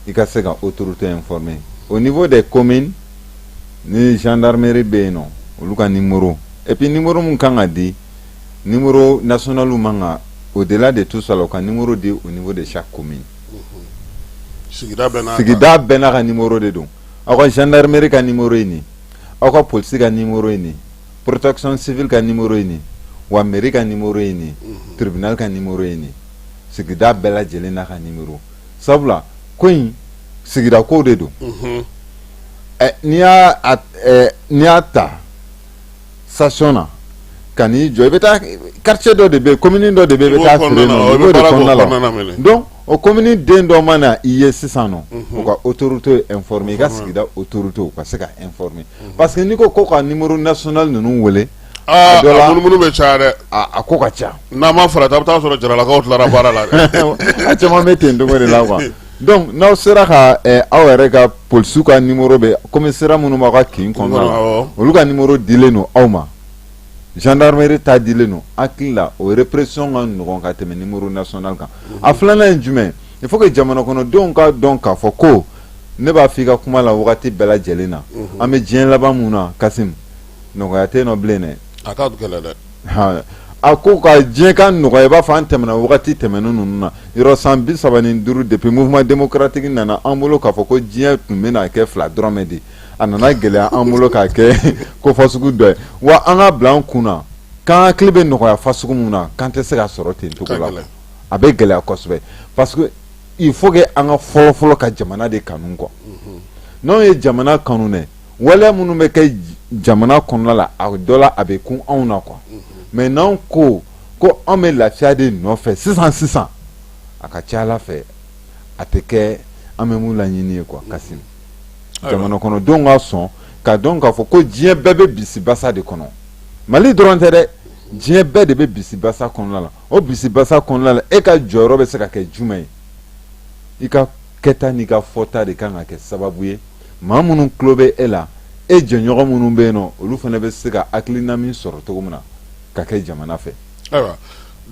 i ka se ka autorité informer au niveau des communes ni gendarmerie bɛ yen nɔ olu ka numéro et puis numéro min kan ka di numéro national man ka au delà de tout ça là u ka numéro di au niveau de chaque commune sigida bɛɛ n'a ka numéro de don aw ka gendarmerie ka numéro ye nin aw ka police ka numéro ye nin protection civile ka numéro ye nin wa mairie ka numéro ye nin tribunal ka numéro ye nin sigida bɛɛ lajɛlen n'a ka numéro sabula ko in sigida ko de don n'i y'a ta station na ka n'i jɔ i bɛ taa quartier dɔ de bɛ yen commune dɔ de bɛ yen i bɛ taa o commune den dɔ mana i ye sisan nɔ u ka autorité informer i ka sigida autoritéw ka se ka informer parce que n'i ko ko ka numéro national ninnu wele a munumunu bɛ caya dɛ a ko ka ca n'a ma farati a bɛ taa sɔrɔ jaralakaw tilara baara la a caman bɛ ten cogo de la quoi donc n'aw sera ka aw yɛrɛ ka polisiw ka numéro bɛ commissariat minnu b'aw ka kin kɔnɔna la olu ka numéro dilen don aw ma gendarmerie ta dilen don hakili la o répression ka nɔgɔn ka tɛmɛ numéro national kan a filanan ye jumɛn il faut que jamana kɔnɔdenw ka dɔn k'a fɔ ko ne b'a fɔ i ka kuma la wagati bɛɛ lajɛlen na an bɛ diɲɛ laban min na Kassim nɔgɔya tɛ nɔ bilen dɛ a ka gɛlɛn dɛ a ko ka diɲɛ ka nɔgɔya i b'a fɔ an tɛmɛna wagati tɛmɛnen ninnu na yɔrɔ san bi saba ni duuru depuis mouvement démocratique nana an bolo k'a fɔ ko diɲɛ tun bɛna kɛ fila dɔrɔmɛ de a nana gɛlɛya an bolo k'a kɛ ko fa sugu dɔ ye wa an k'a bila an kun na k'an hakili bɛ nɔgɔya fa sugu min na k'an tɛ se k'a sɔrɔ ten cogo la a bɛ gɛlɛya kosɛbɛ parce que il faut que an ka fɔlɔ fɔlɔ ka jamana de kanu quoi mhm. n'anw ye jamana kanu dɛ waleya minnu bɛ kɛ jamana kɔnɔna la a dɔ la a bɛ kun anw na quoi mhm. mais n'anw ko ko anw bɛ lafiya de nɔfɛ sisan sisan a ka ca a la fɛ a tɛ kɛ an bɛ mun laɲini ye quoi Kassim jamana kɔnɔdenw ka sɔn ka dɔn k'a fɔ ko diɲɛ bɛɛ bɛ bisibasa de kɔnɔ mali dɔrɔn tɛ dɛ diɲɛ bɛɛ de bɛ bisibasa kɔnɔna la o bisibasa kɔnɔna la e ka jɔyɔrɔ bɛ se ka kɛ jumɛn ye i ka kɛta n'i ka fɔta de kan ka kɛ sababu ye maa minnu tulo bɛ e la e jɛɲɔgɔn minnu bɛ yen nɔ olu fana bɛ se ka hakilina min sɔrɔ cogo min na ka kɛ jamana fɛ Ayiwa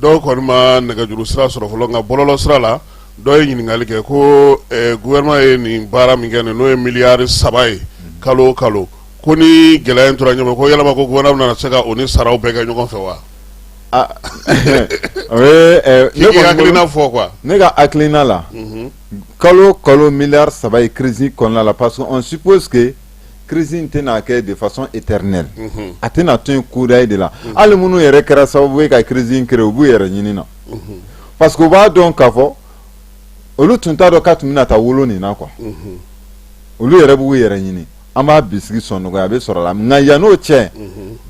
dɔw kɔni ma nɛgɛjuru sira sɔrɔ fɔlɔ nka bɔlɔlɔ sira la dɔ ye ɲininkali kɛ ko gouvernement ye nin baara min kɛ n'o ye miliyari saba ye kalo kalo ko ni gɛlɛya in tora yen ko yalama ko gouvernement bɛna na se ka o ni saraw bɛɛ kɛ ɲɔgɔn fɛ wa i hakilina fɔ quoi ne ka hakilina la kalo kalo miliyari saba ye crise kɔnɔna la parce que crise in tɛna kɛ de façon éternelle a tɛna to yen kudayi de la hali minnu yɛrɛ kɛra sababu ye ka crise in créer u b'u yɛrɛ ɲini na parce que u b'a dɔn k'a fɔ olu tun t'a dɔn k'a tun bɛna taa wolo nin na quoi olu yɛrɛ b'u yɛrɛ ɲini an b'a bisigi sɔn nɔgɔya a bɛ sɔrɔ la nka yann'o cɛ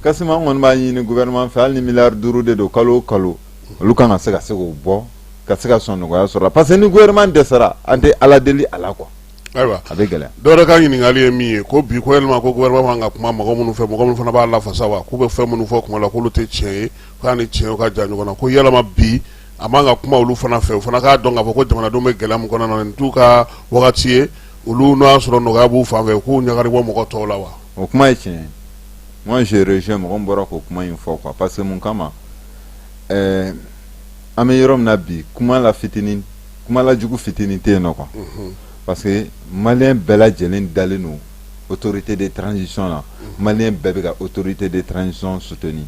Kassim an kɔni b'a ɲini gouvernement fɛ hali ni miliyari duuru de don kalo kalo olu kan ka se ka se k'o bɔ ka se ka sɔn nɔgɔya sɔrɔ parce que ni gouvernement dɛsɛra an tɛ ala deli a la quoi Ayiwa a bɛ gɛlɛya dɔ wɛrɛ ka ɲininkali ye min ye ko bi ko yalama ko gouvernement man kan ka kuma mɔgɔ minnu fɛ mɔgɔ minnu fana b'a lafasa wa k'u bɛ fɛn minnu fɔ kuma la k'olu tɛ tiɲɛ ye k'a ni tiɲɛ ka jan ɲɔgɔn na ko yalama bi a man ka kuma olu fana fɛ u fana k'a dɔn k'a fɔ ko jamanadenw bɛ gɛlɛya min kɔnɔna na nin t'u ka wagati ye olu n'o y'a sɔrɔ nɔgɔya b'u fan fɛ k'u ɲagari bɔ mɔgɔ tɔw la wa o kuma ye tiɲɛ ye moi je rejoins mɔgɔ min bɔra k'o kuma in fɔ quoi parce que mun kama an bɛ yɔrɔ min na bi kumala fitinin kumala jugu fitinin tɛ yen nɔ quoi mhm. parce que malien bɛɛ lajɛlen dalen don autorité de transition la mhm. malien bɛɛ bɛ ka autorité de transition soutenir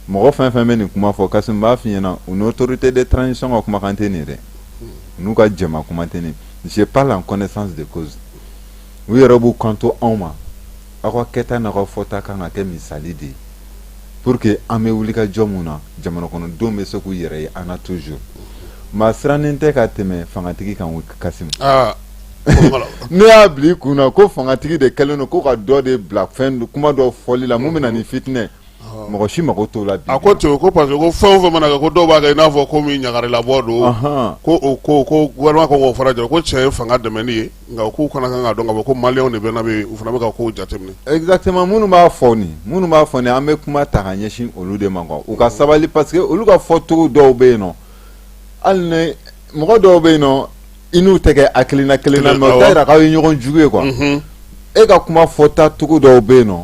mɔgɔ fɛn fɛn bɛ nin kuma fɔ Kassim n b'a f'i ɲɛna u ni autorité de transition ka kumakan tɛ nin ye dɛ mhm. u n'u ka jɛma kuma tɛ nin je parle en connaissance de cause u yɛrɛ b'u kanto anw ma aw ka kɛta n'aw ka fɔta kan ka kɛ misali de ye pour que an bɛ wuli ka jɔ mun na jamana kɔnɔdenw bɛ se k'u yɛrɛ ye an na toujours maa sirannen tɛ ka tɛmɛ fangatigi kan kassim ah, ne y'a bila i kun na ko fangatigi de kɛlen don ko ka dɔ de bila fɛn kuma dɔ fɔli la mun bɛ na ni fitinɛ mɔgɔ si mako t'o la a ko ten ko parce que ko fɛn o fɛn mana kɛ ko dɔw b'a kɛ i n'a fɔ ko min ɲagarilabɔ don ko ko gouvernement ko fara jɔ ko cɛ ye fanga dɛmɛni ye nka k'u fana kan k'a dɔn k'a fɔ ko maliyɛnw de bɛ u fana bɛ ka ko jateminɛ exactement minnu b'a fɔ nin minnu b'a fɔ an bɛ kuma ta ka ɲɛsin olu de ma u ka sabali parce que olu ka fɔcogo dɔw bɛ yen nɔ hali ni mɔgɔ dɔw bɛ yen nɔ i n'u tɛ kɛ hakilina kelen na mais o t'a yira k'aw ye ɲɔgɔn jugu ye quoi e ka kuma fɔta cogo dɔw bɛ yen nɔ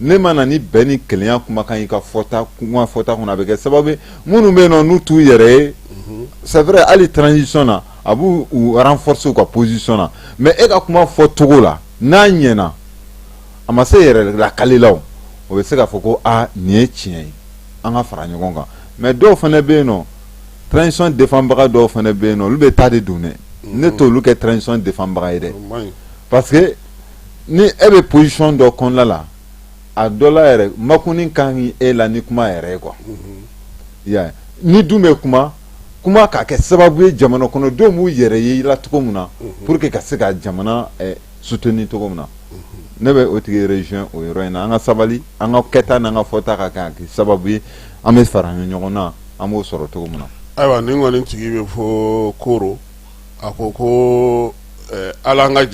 n'e ma na ni bɛn ni kelenya kumakan y'i ka fɔta kuma fɔta kɔnɔ a bɛ kɛ sababu ye minnu bɛ yen nɔ n'u t'u yɛrɛ ye mhm. c'est vrai hali transition na a b'u renforcer u ka position na mais e ka kuma fɔcogo la n'a ɲɛna a ma se yɛrɛ lakalilaw o bɛ se k'a fɔ ko aa nin ye tiɲɛ ye an ka fara ɲɔgɔn kan mais dɔw fana bɛ yen nɔ transition défendbaga dɔw fana bɛ yen nɔ olu bɛ taa de don dɛ ne mhm. t'olu kɛ transition défendbaga ye dɛ parce que ni e bɛ position dɔ kɔnɔna la a dɔ la yɛrɛ makuni ka ɲi e la ni kuma yɛrɛ ye quoi n'i dun bɛ kuma kuma k'a kɛ sababu ye jamana kɔnɔdenw b'u yɛrɛ ye la cogo min na pour que ka se ka jamana eh, soutenir cogo min na ne bɛ o tigi rejoindre o yɔrɔ in na an ka sabali an ka kɛta n'an ka fɔta ka kɛ sababu ye an bɛ fara ɲɔgɔn na an b'o sɔrɔ cogo min na ayiwa nin kɔni tigi bɛ fo koro a ko ko hali an ka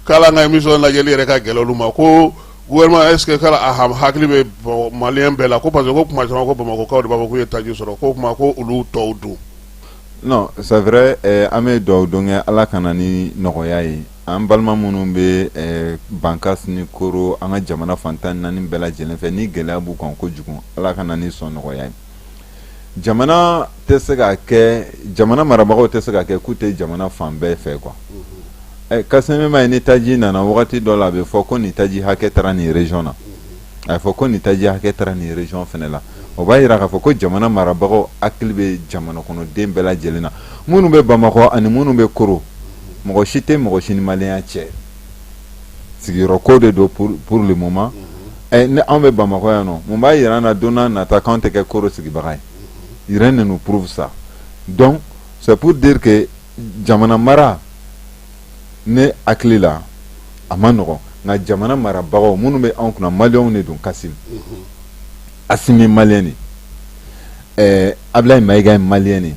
k'hali an ka émission lajɛli yɛrɛ ka gɛlɛ olu ma ko gouvernement est-ce que a hakili bɛ maliyɛn bɛɛ la ko parce que ko kuma caman ko bamakɔkaw de b'a fɔ k'u ye taji sɔrɔ ko kuma ko olu tɔw dun non c'est vrai an bɛ dugawu don kɛ ala ka na ni nɔgɔya ye an balima minnu bɛ bankas ni koro an ka jamana fan tan ni naani bɛɛ lajɛlen fɛ ni gɛlɛya b'u kan ko kojugu ala ka na ni sɔnɔgɔya ye jamana tɛ se ka kɛ jamana marabagaw tɛ se ka kɛ k'u tɛ jamana fan bɛɛ fɛ quoi ɛ kassim e m'a ye ni taji nana wagati dɔ la a bɛ fɔ ko nin taji hakɛ taara nin région na a bɛ fɔ ko nin taji hakɛ taara nin région fana la o b'a yira k'a fɔ ko jamana marabagaw hakili bɛ jamana kɔnɔden bɛɛ lajɛlen na minnu bɛ bamakɔ ani minnu bɛ koro mɔgɔ si tɛ mɔgɔ si ni maliyɛnya cɛ sigiyɔrɔ ko de don pour le moment ni anw bɛ bamakɔ yan nɔ mun b'a yira an na don nata k'an tɛ kɛ koro sigibaga ye rien ne nous prouve ça donc c'est pour dire que jamana mara ne hakili la a ma nɔgɔ nka jamana marabagaw minnu bɛ anw kunna maliyɛnw de don kassim assimi ye maliyɛn de ɛɛ ablaye mayiga ye maliyɛn de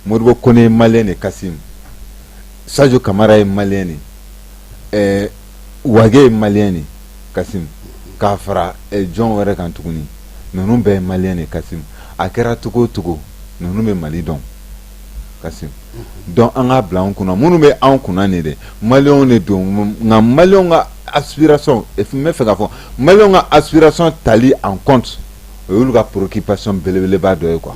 modibo kone ye maliyɛn de kassim sajo kamara ye maliyɛn de ɛɛ wage ye maliyɛn de kasim k'a fara jɔn wɛrɛ kan tuguni ninnu bɛɛ ye maliyɛn de kasim a kɛra cogo o cogo ninnu bɛ mali dɔn kasim donc an k'a bila an kunna minnu bɛ an kunna nin de maliyɛnw de don nka maliyɛnw ka aspiration n bɛ fɛ k'a fɔ maliyɛnw ka aspiration tali en compte o y'olu ka préoccupation belebeleba dɔ ye quoi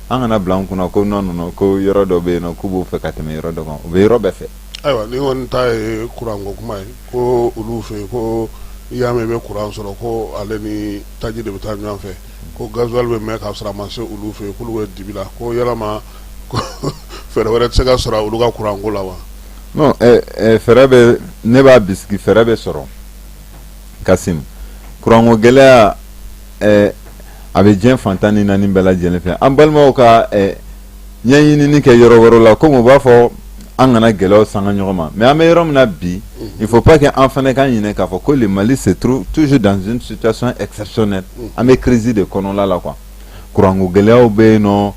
an kana bila an kunna ko non non ko yɔrɔ dɔ bɛ yen nɔ k'u b'o fɛ ka tɛmɛ yɔrɔ dɔ kan u bɛ yɔrɔ bɛɛ fɛ ayiwa ni kɔni ta ye kuranko kuma ye ko olu fɛ ko i y'a mɛn i bɛ kuran sɔrɔ ko ale ni taji de bɛ taa ɲɔgɔn fɛ ko gasoil bɛ mɛn k'a sɔrɔ a ma se olu fɛ k'olu bɛ dibi la ko yalama fɛɛrɛ wɛrɛ tɛ se ka sɔrɔ olu ka kuranko la wa fɛɛrɛ bɛ ne b'a bisigi fɛɛrɛ bɛ sɔrɔ kasim kuranko gɛlɛya eh, a bɛ diɲɛ fan tan ni naani bɛɛ lajɛlen fɛ an balimaw ka eh, ɲɛɲinini kɛ yɔrɔ wɛrɛ la komi u b'a fɔ an kana gɛlɛyaw sanga ɲɔgɔn ma mais an bɛ yɔrɔ min na bi mhm. il faut pas que an fana ka ɲinɛ k'a fɔ ko le mali se trouve toujours dans une situation exceptionnelle mhm. an bɛ crise de kɔnɔla la quoi kuranko gɛlɛyaw bɛ yen nɔ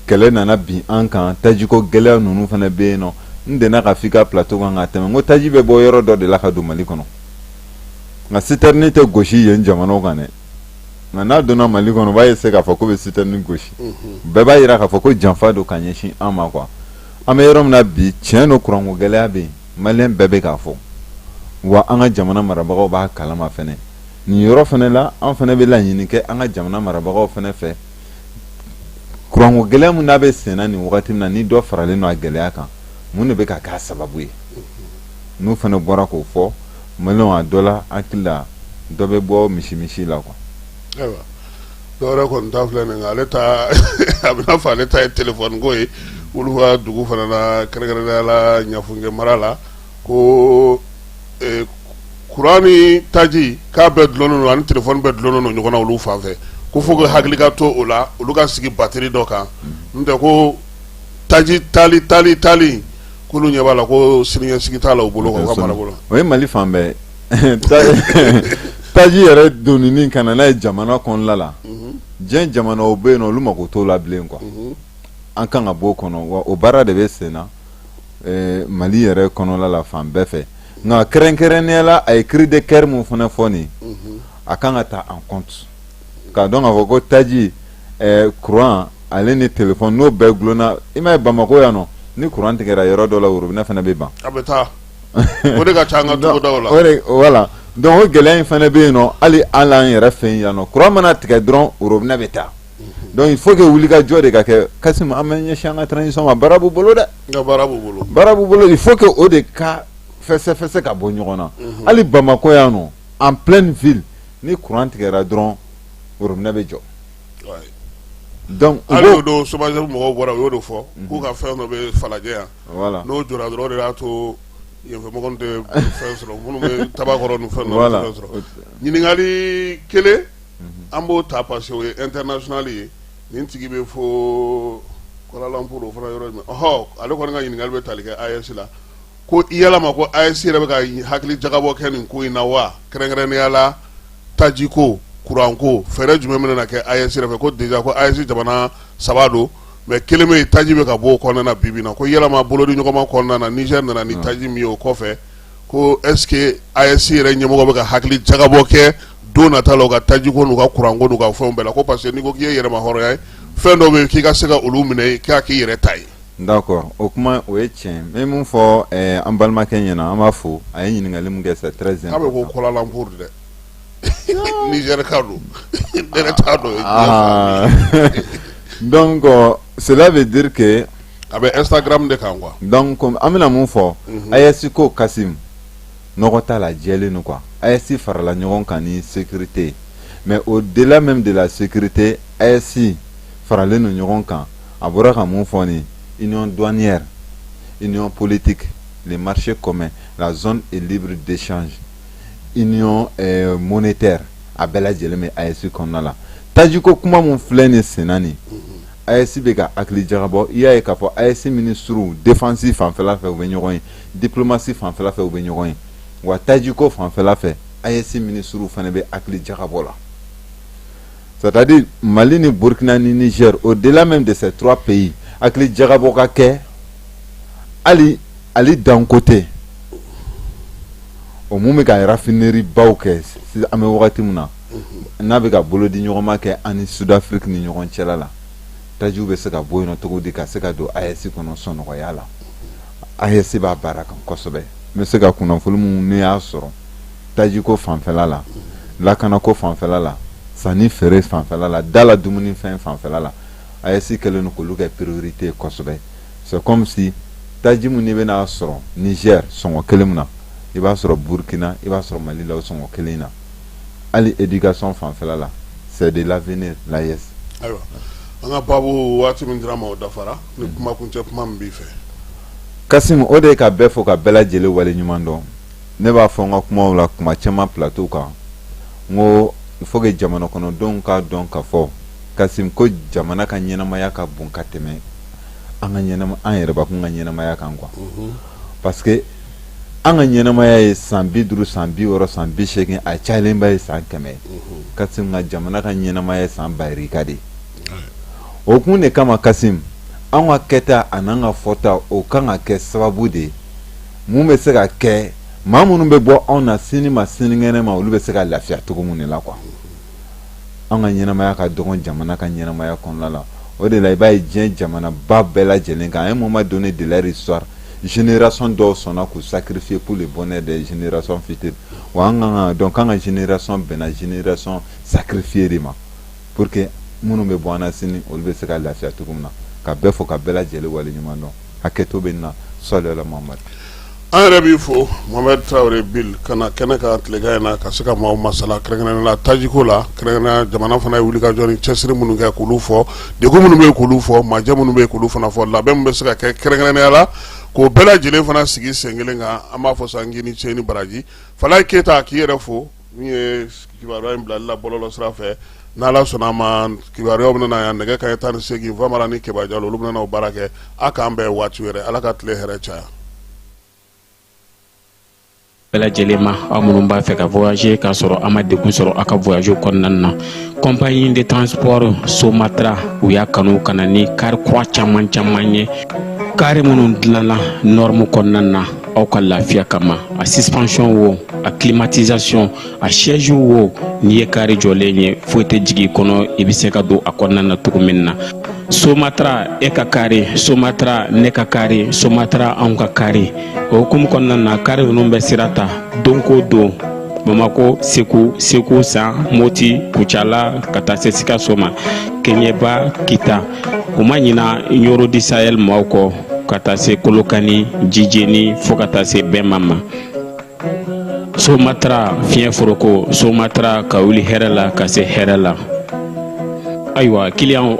kɛlɛ nana bin an kan tajiko gɛlɛya ninnu fana bɛ yen nɔ n dɛnna ka f'i ka plateau kan ka tɛmɛ n ko taji bɛ bɔ yɔrɔ dɔ de la ka don mali kɔnɔ nka sitɛrni tɛ gosi yen jamanaw kan dɛ nka n'a donna mali kɔnɔ u b'a essayer k'a fɔ k'u bɛ sitɛrni gosi bɛɛ b'a jira k'a fɔ ko janfa don ka ɲɛsin an ma quoi an bɛ yɔrɔ min na bi tiɲɛ don kuranko gɛlɛya bɛ yen maliyɛn bɛɛ bɛ k'a fɔ wa an ka jamana marabagaw b'a kalama fɛnɛ nin yɔrɔ fana la an fana bɛ laɲini kɛ an ka jamana marabagaw fana fɛ kuranko gɛlɛya min n'a bɛ senna nin wagati in na ni dɔ faralen don a gɛlɛya kan mun de bɛ ka k'a sababu ye n'u fana bɔra k'o fɔ maliyɛnw a dɔ la hakili la dɔ bɛ bɔ misi misi la quoi ayiwa dɔwɛrɛ kɔni ta filɛ nin ale ta a bɛna fɔ ale ta ye telefɔniko ye olu ka dugu fana la kɛrɛnkɛrɛnnenya la ɲafunke mara la ko e, kuran ni taji k'a bɛɛ dulonnen don ani telefɔni bɛɛ dulonnen don ɲɔgɔn na olu fan fɛ ko faut que hakili ka to o la olu ka sigi batri dɔ kan n tɛ ko taji tali tali tali k'olu ɲɛ b'a la ko siniɲɛsigi t'a la u bolo o ye mali fan bɛɛ taji yɛrɛ donni ka na n'a ye jamana kɔnɔla la mhm. diɲɛ jamanaw bɛ yen nɔ olu mako t'o la bilen quoi mhm. an kan ka b'o kɔnɔ wa o baara de bɛ sen na eh, mali yɛrɛ kɔnɔla la fan bɛɛ fɛ nka kɛrɛnkɛrɛnnenya la a ye cri de cœur min fana fɔ nin mhm. a kan ka ta en compte k'a dɔn k'a fɔ ko taji kuran ale ni téléphone n'o bɛɛ gulonna i m'a ye bamakɔ yan nɔ ni kuran tigɛra yɔrɔ dɔ la robinet fana bɛ ban voilà donc o gɛlɛya in fana bɛ yen nɔ hali an an yɛrɛ fɛ yan nɔ kuran mana tigɛ dɔrɔn robinet bɛ taa donc il faut que wulikajɔ de ka kɛ Kasim an bɛ ɲɛsin an ka transition ma baara b'u bolo dɛ baara b'u bolo il faut que o de ka fɛsɛ fɛsɛ ka bɔ ɲɔgɔn na hali bamakɔ yan nɔ en pleine ville ni kuran tigɛra dɔrɔn robinet bɛ jɔ donc hali o don SOMAGEP mɔgɔw bɔra u y'o de fɔ k'u ka fɛn dɔ bɛ falajɛ yan n'o jɔra dɔrɔn o de y'a to yenfɛmɔgɔw tɛ fɛn sɔrɔ minnu bɛ Tabakɔrɔ ni fɛn dɔ tɛ fɛn sɔrɔ ɲininkali kelen an b'o ta parce que o ye international ye nin tigi bɛ fo Kuala Lumpur o fana yɔrɔ minɔ ale kɔni ka ɲininkali bɛ tali kɛ AES la ko yalama ko AES yɛrɛ bɛ ka hakili jagabɔ kɛ nin ko in na wa kɛrɛnkɛrɛnnenya la tajiko kuranko fɛɛrɛ jumɛn bɛna kɛ AES yɛrɛ fɛ ko déjà ko AES jamana saba don mais kelen bɛ yen taji bɛ ka bɔ o kɔnɔna na bi bi in na ko yalama bolodi ɲɔgɔnma kɔnɔna na Niger nana ni taji min ye o kɔfɛ ko est ce que AES yɛrɛ ɲɛmɔgɔ bɛ ka hakili jagabɔ kɛ don nata la u ka tajiko n'u ka kuranko n'u ka fɛnw bɛɛ la ko parce que n'i ko k'i ye yɛrɛmahɔrɔnya ye fɛn dɔw bɛ yen k'i ka se ka olu minɛ k'a k'i yɛrɛ ta ye n da kɔrɔ o kuma o ye tiɲɛ n min fɔ an balimakɛ ɲɛna an b'a fɔ a ye ɲininkakali min kɛ sa tɛ z bɛ ko kɔlanmuru dɛ nizrika don don dɔn sɛda bɛ dike a bɛ esa de kan kuwa an bɛna min fɔ a ye siko kasi nɔgɔ t'a la jɛlen nin kuwa a ye si farala ɲɔgɔn kan ni sete mɛ o de min de la sete a ye si faralen ninnu ɲɔgɔn kan a bɔra ka mun fɔ nin union douanière union politique le marché commun la zone est libre d'échange union euh, monétaire a bɛɛ lajɛlen bɛ AES kɔnɔna la tajiko kuma mun filɛ nin senna nin AES bɛ ka hakili jagabɔ i y'a ye k'a fɔ AES minisiriw défense fanfɛla fɛ u bɛ ɲɔgɔn ye diplomatie fanfɛla fɛ u bɛ ɲɔgɔn ye wa tajiko fanfɛla fɛ AES minisiriw fana bɛ hakili jagabɔ la c'est-à-dire mali ni burukina ni Niger au delà même de ces trois pays hakili jagabɔ ka kɛ hali Ali Dangote o min bɛ ka raffinerie baw kɛ an bɛ wagati min na n'a bɛ ka bolo di ɲɔgɔnma kɛ ani Sud-Afrique ni ɲɔgɔn cɛ la tajiw bɛ se ka bɔ yen nɔ cogo di ka se ka don AES kɔnɔ sɔnɔgɔya la AES b'a baara kan kosɛbɛ n bɛ se ka kunnafoni minnu ne y'a sɔrɔ tajiko fanfɛla la lakanako fanfɛla la sanni feere fanfɛla la da la dumuni fɛn fanfɛla la aes kɛlen don k'olu kɛ priorité ye kosɛbɛ c'est comme si taji min n'i bɛna sɔrɔ niger sɔngɔ kelen min na i b'a sɔrɔ burkina i b'a sɔrɔ mali la o sɔngɔ kelen na hali éducation fanfɛla la c'est de l'avenir l'aes ayiwa an ka baabu waati min dira ma o dafara ni mm. kuma kuncɛ kuma min b'i fɛ kasimu o de ye ka bɛɛ fo ka bɛɛ lajɛlen wale ɲuman dɔn ne b'a fɔ n ka kumaw la tuma caman plateau kan n ko il faut que jamana kɔnɔdenw k'a dɔn k'a fɔ kasim ko jamana ka ɲɛnamaya ka bon ka tɛmɛ an ka ɲɛnama an yɛrɛbakun ka ɲɛnamaya kan quoi mhm. parce que an ka ɲɛnamaya ye san bi duuru san bi wɔɔrɔ san bi seegin a cayalenba ye san kɛmɛ ye mhm. kasim nka jamana ka ɲɛnamaya ye san bayirika de ye o kun de kama kasim an ka kɛta an'an ka fɔta o kan ka kɛ sababu de ye mun bɛ se ka kɛ maa minnu bɛ bɔ anw na sini ma sinikɛnɛ ma olu bɛ se ka lafiya cogo min de la quoi an ka ɲɛnamaya ka dɔgɔn jamana ka ɲɛnamaya kɔnɔna la o de la i b'a ye diɲɛ jamana ba bɛɛ lajɛlen kan à un moment donné de leur histoire génération dɔw sɔnna k'u sacrifier pour le bonheur des générations futures wa an kan k'a dɔn k'an ka génération bɛnna génération sacrifiée de ma pour que minnu bɛ bɔ an na sini olu bɛ se ka lafiya cogo min na ka bɛɛ fo ka bɛɛ lajɛlen wale ɲuman dɔn hakɛto bɛ nin na sɔli ala muhamad an yɛrɛ b'i fo mohamed traoré bill ka na kɛnɛ kan tilegan in na ka se ka maaw masala kɛrɛnkɛrɛn la tajiko la kɛrɛnkɛrɛn jamana fana ye wulikajɔ ni cɛsiri minnu kɛ k'olu fɔ degun minnu bɛ k'olu fɔ majɛ minnu bɛ k'olu fana fɔ labɛn min bɛ se ka kɛ kɛrɛnkɛrɛnnenya la k'o bɛɛ lajɛlen fana sigi sen kelen kan an b'a fɔ san k'i ni ce ni baraji falaye keyita k'i yɛrɛ fo Min ye kibaruya in bilali la bɔlɔlɔ sira fɛ ni Ala sɔnna a ma kibaruyaw bɛna na yan nɛgɛ kanɲɛ tan ni seegin Famara ni Keba Jalo olu bɛna na o baara kɛ a k'an bɛn waati wɛrɛ Ala ka tile hɛrɛ caya. bɛɛ lajɛlen ma aw minnu b'a fɛ ka voyager k'a sɔrɔ a ma degun sɔrɔ a ka voyage kɔnɔna na compagnie de transport Somatra u y'a kanu ka na ni kari kura caman caman ye kari minnu dilanna norme kɔnɔna na aw ka lafiya kama a suspension wo a climatisation a siège wo n'i ye kari jɔlen ye foyi tɛ jigin i kɔnɔ i bɛ se ka don a kɔnɔna na cogo min na somatra e ka kari somatra ne ka kari somatra anw ka kari o hukumu kɔnɔna na kari ninnu bɛ sira ta don ko don bamako segu segu san moti kucala ka taa se sikaso ma keɲeba kita u ma ɲina nioro du sahel maaw kɔ ka taa se kolokani jijeni fo ka taa se bɛma ma somatra fiɲɛ foroko somatra ka wuli hɛrɛ la ka se hɛrɛ la ayiwa client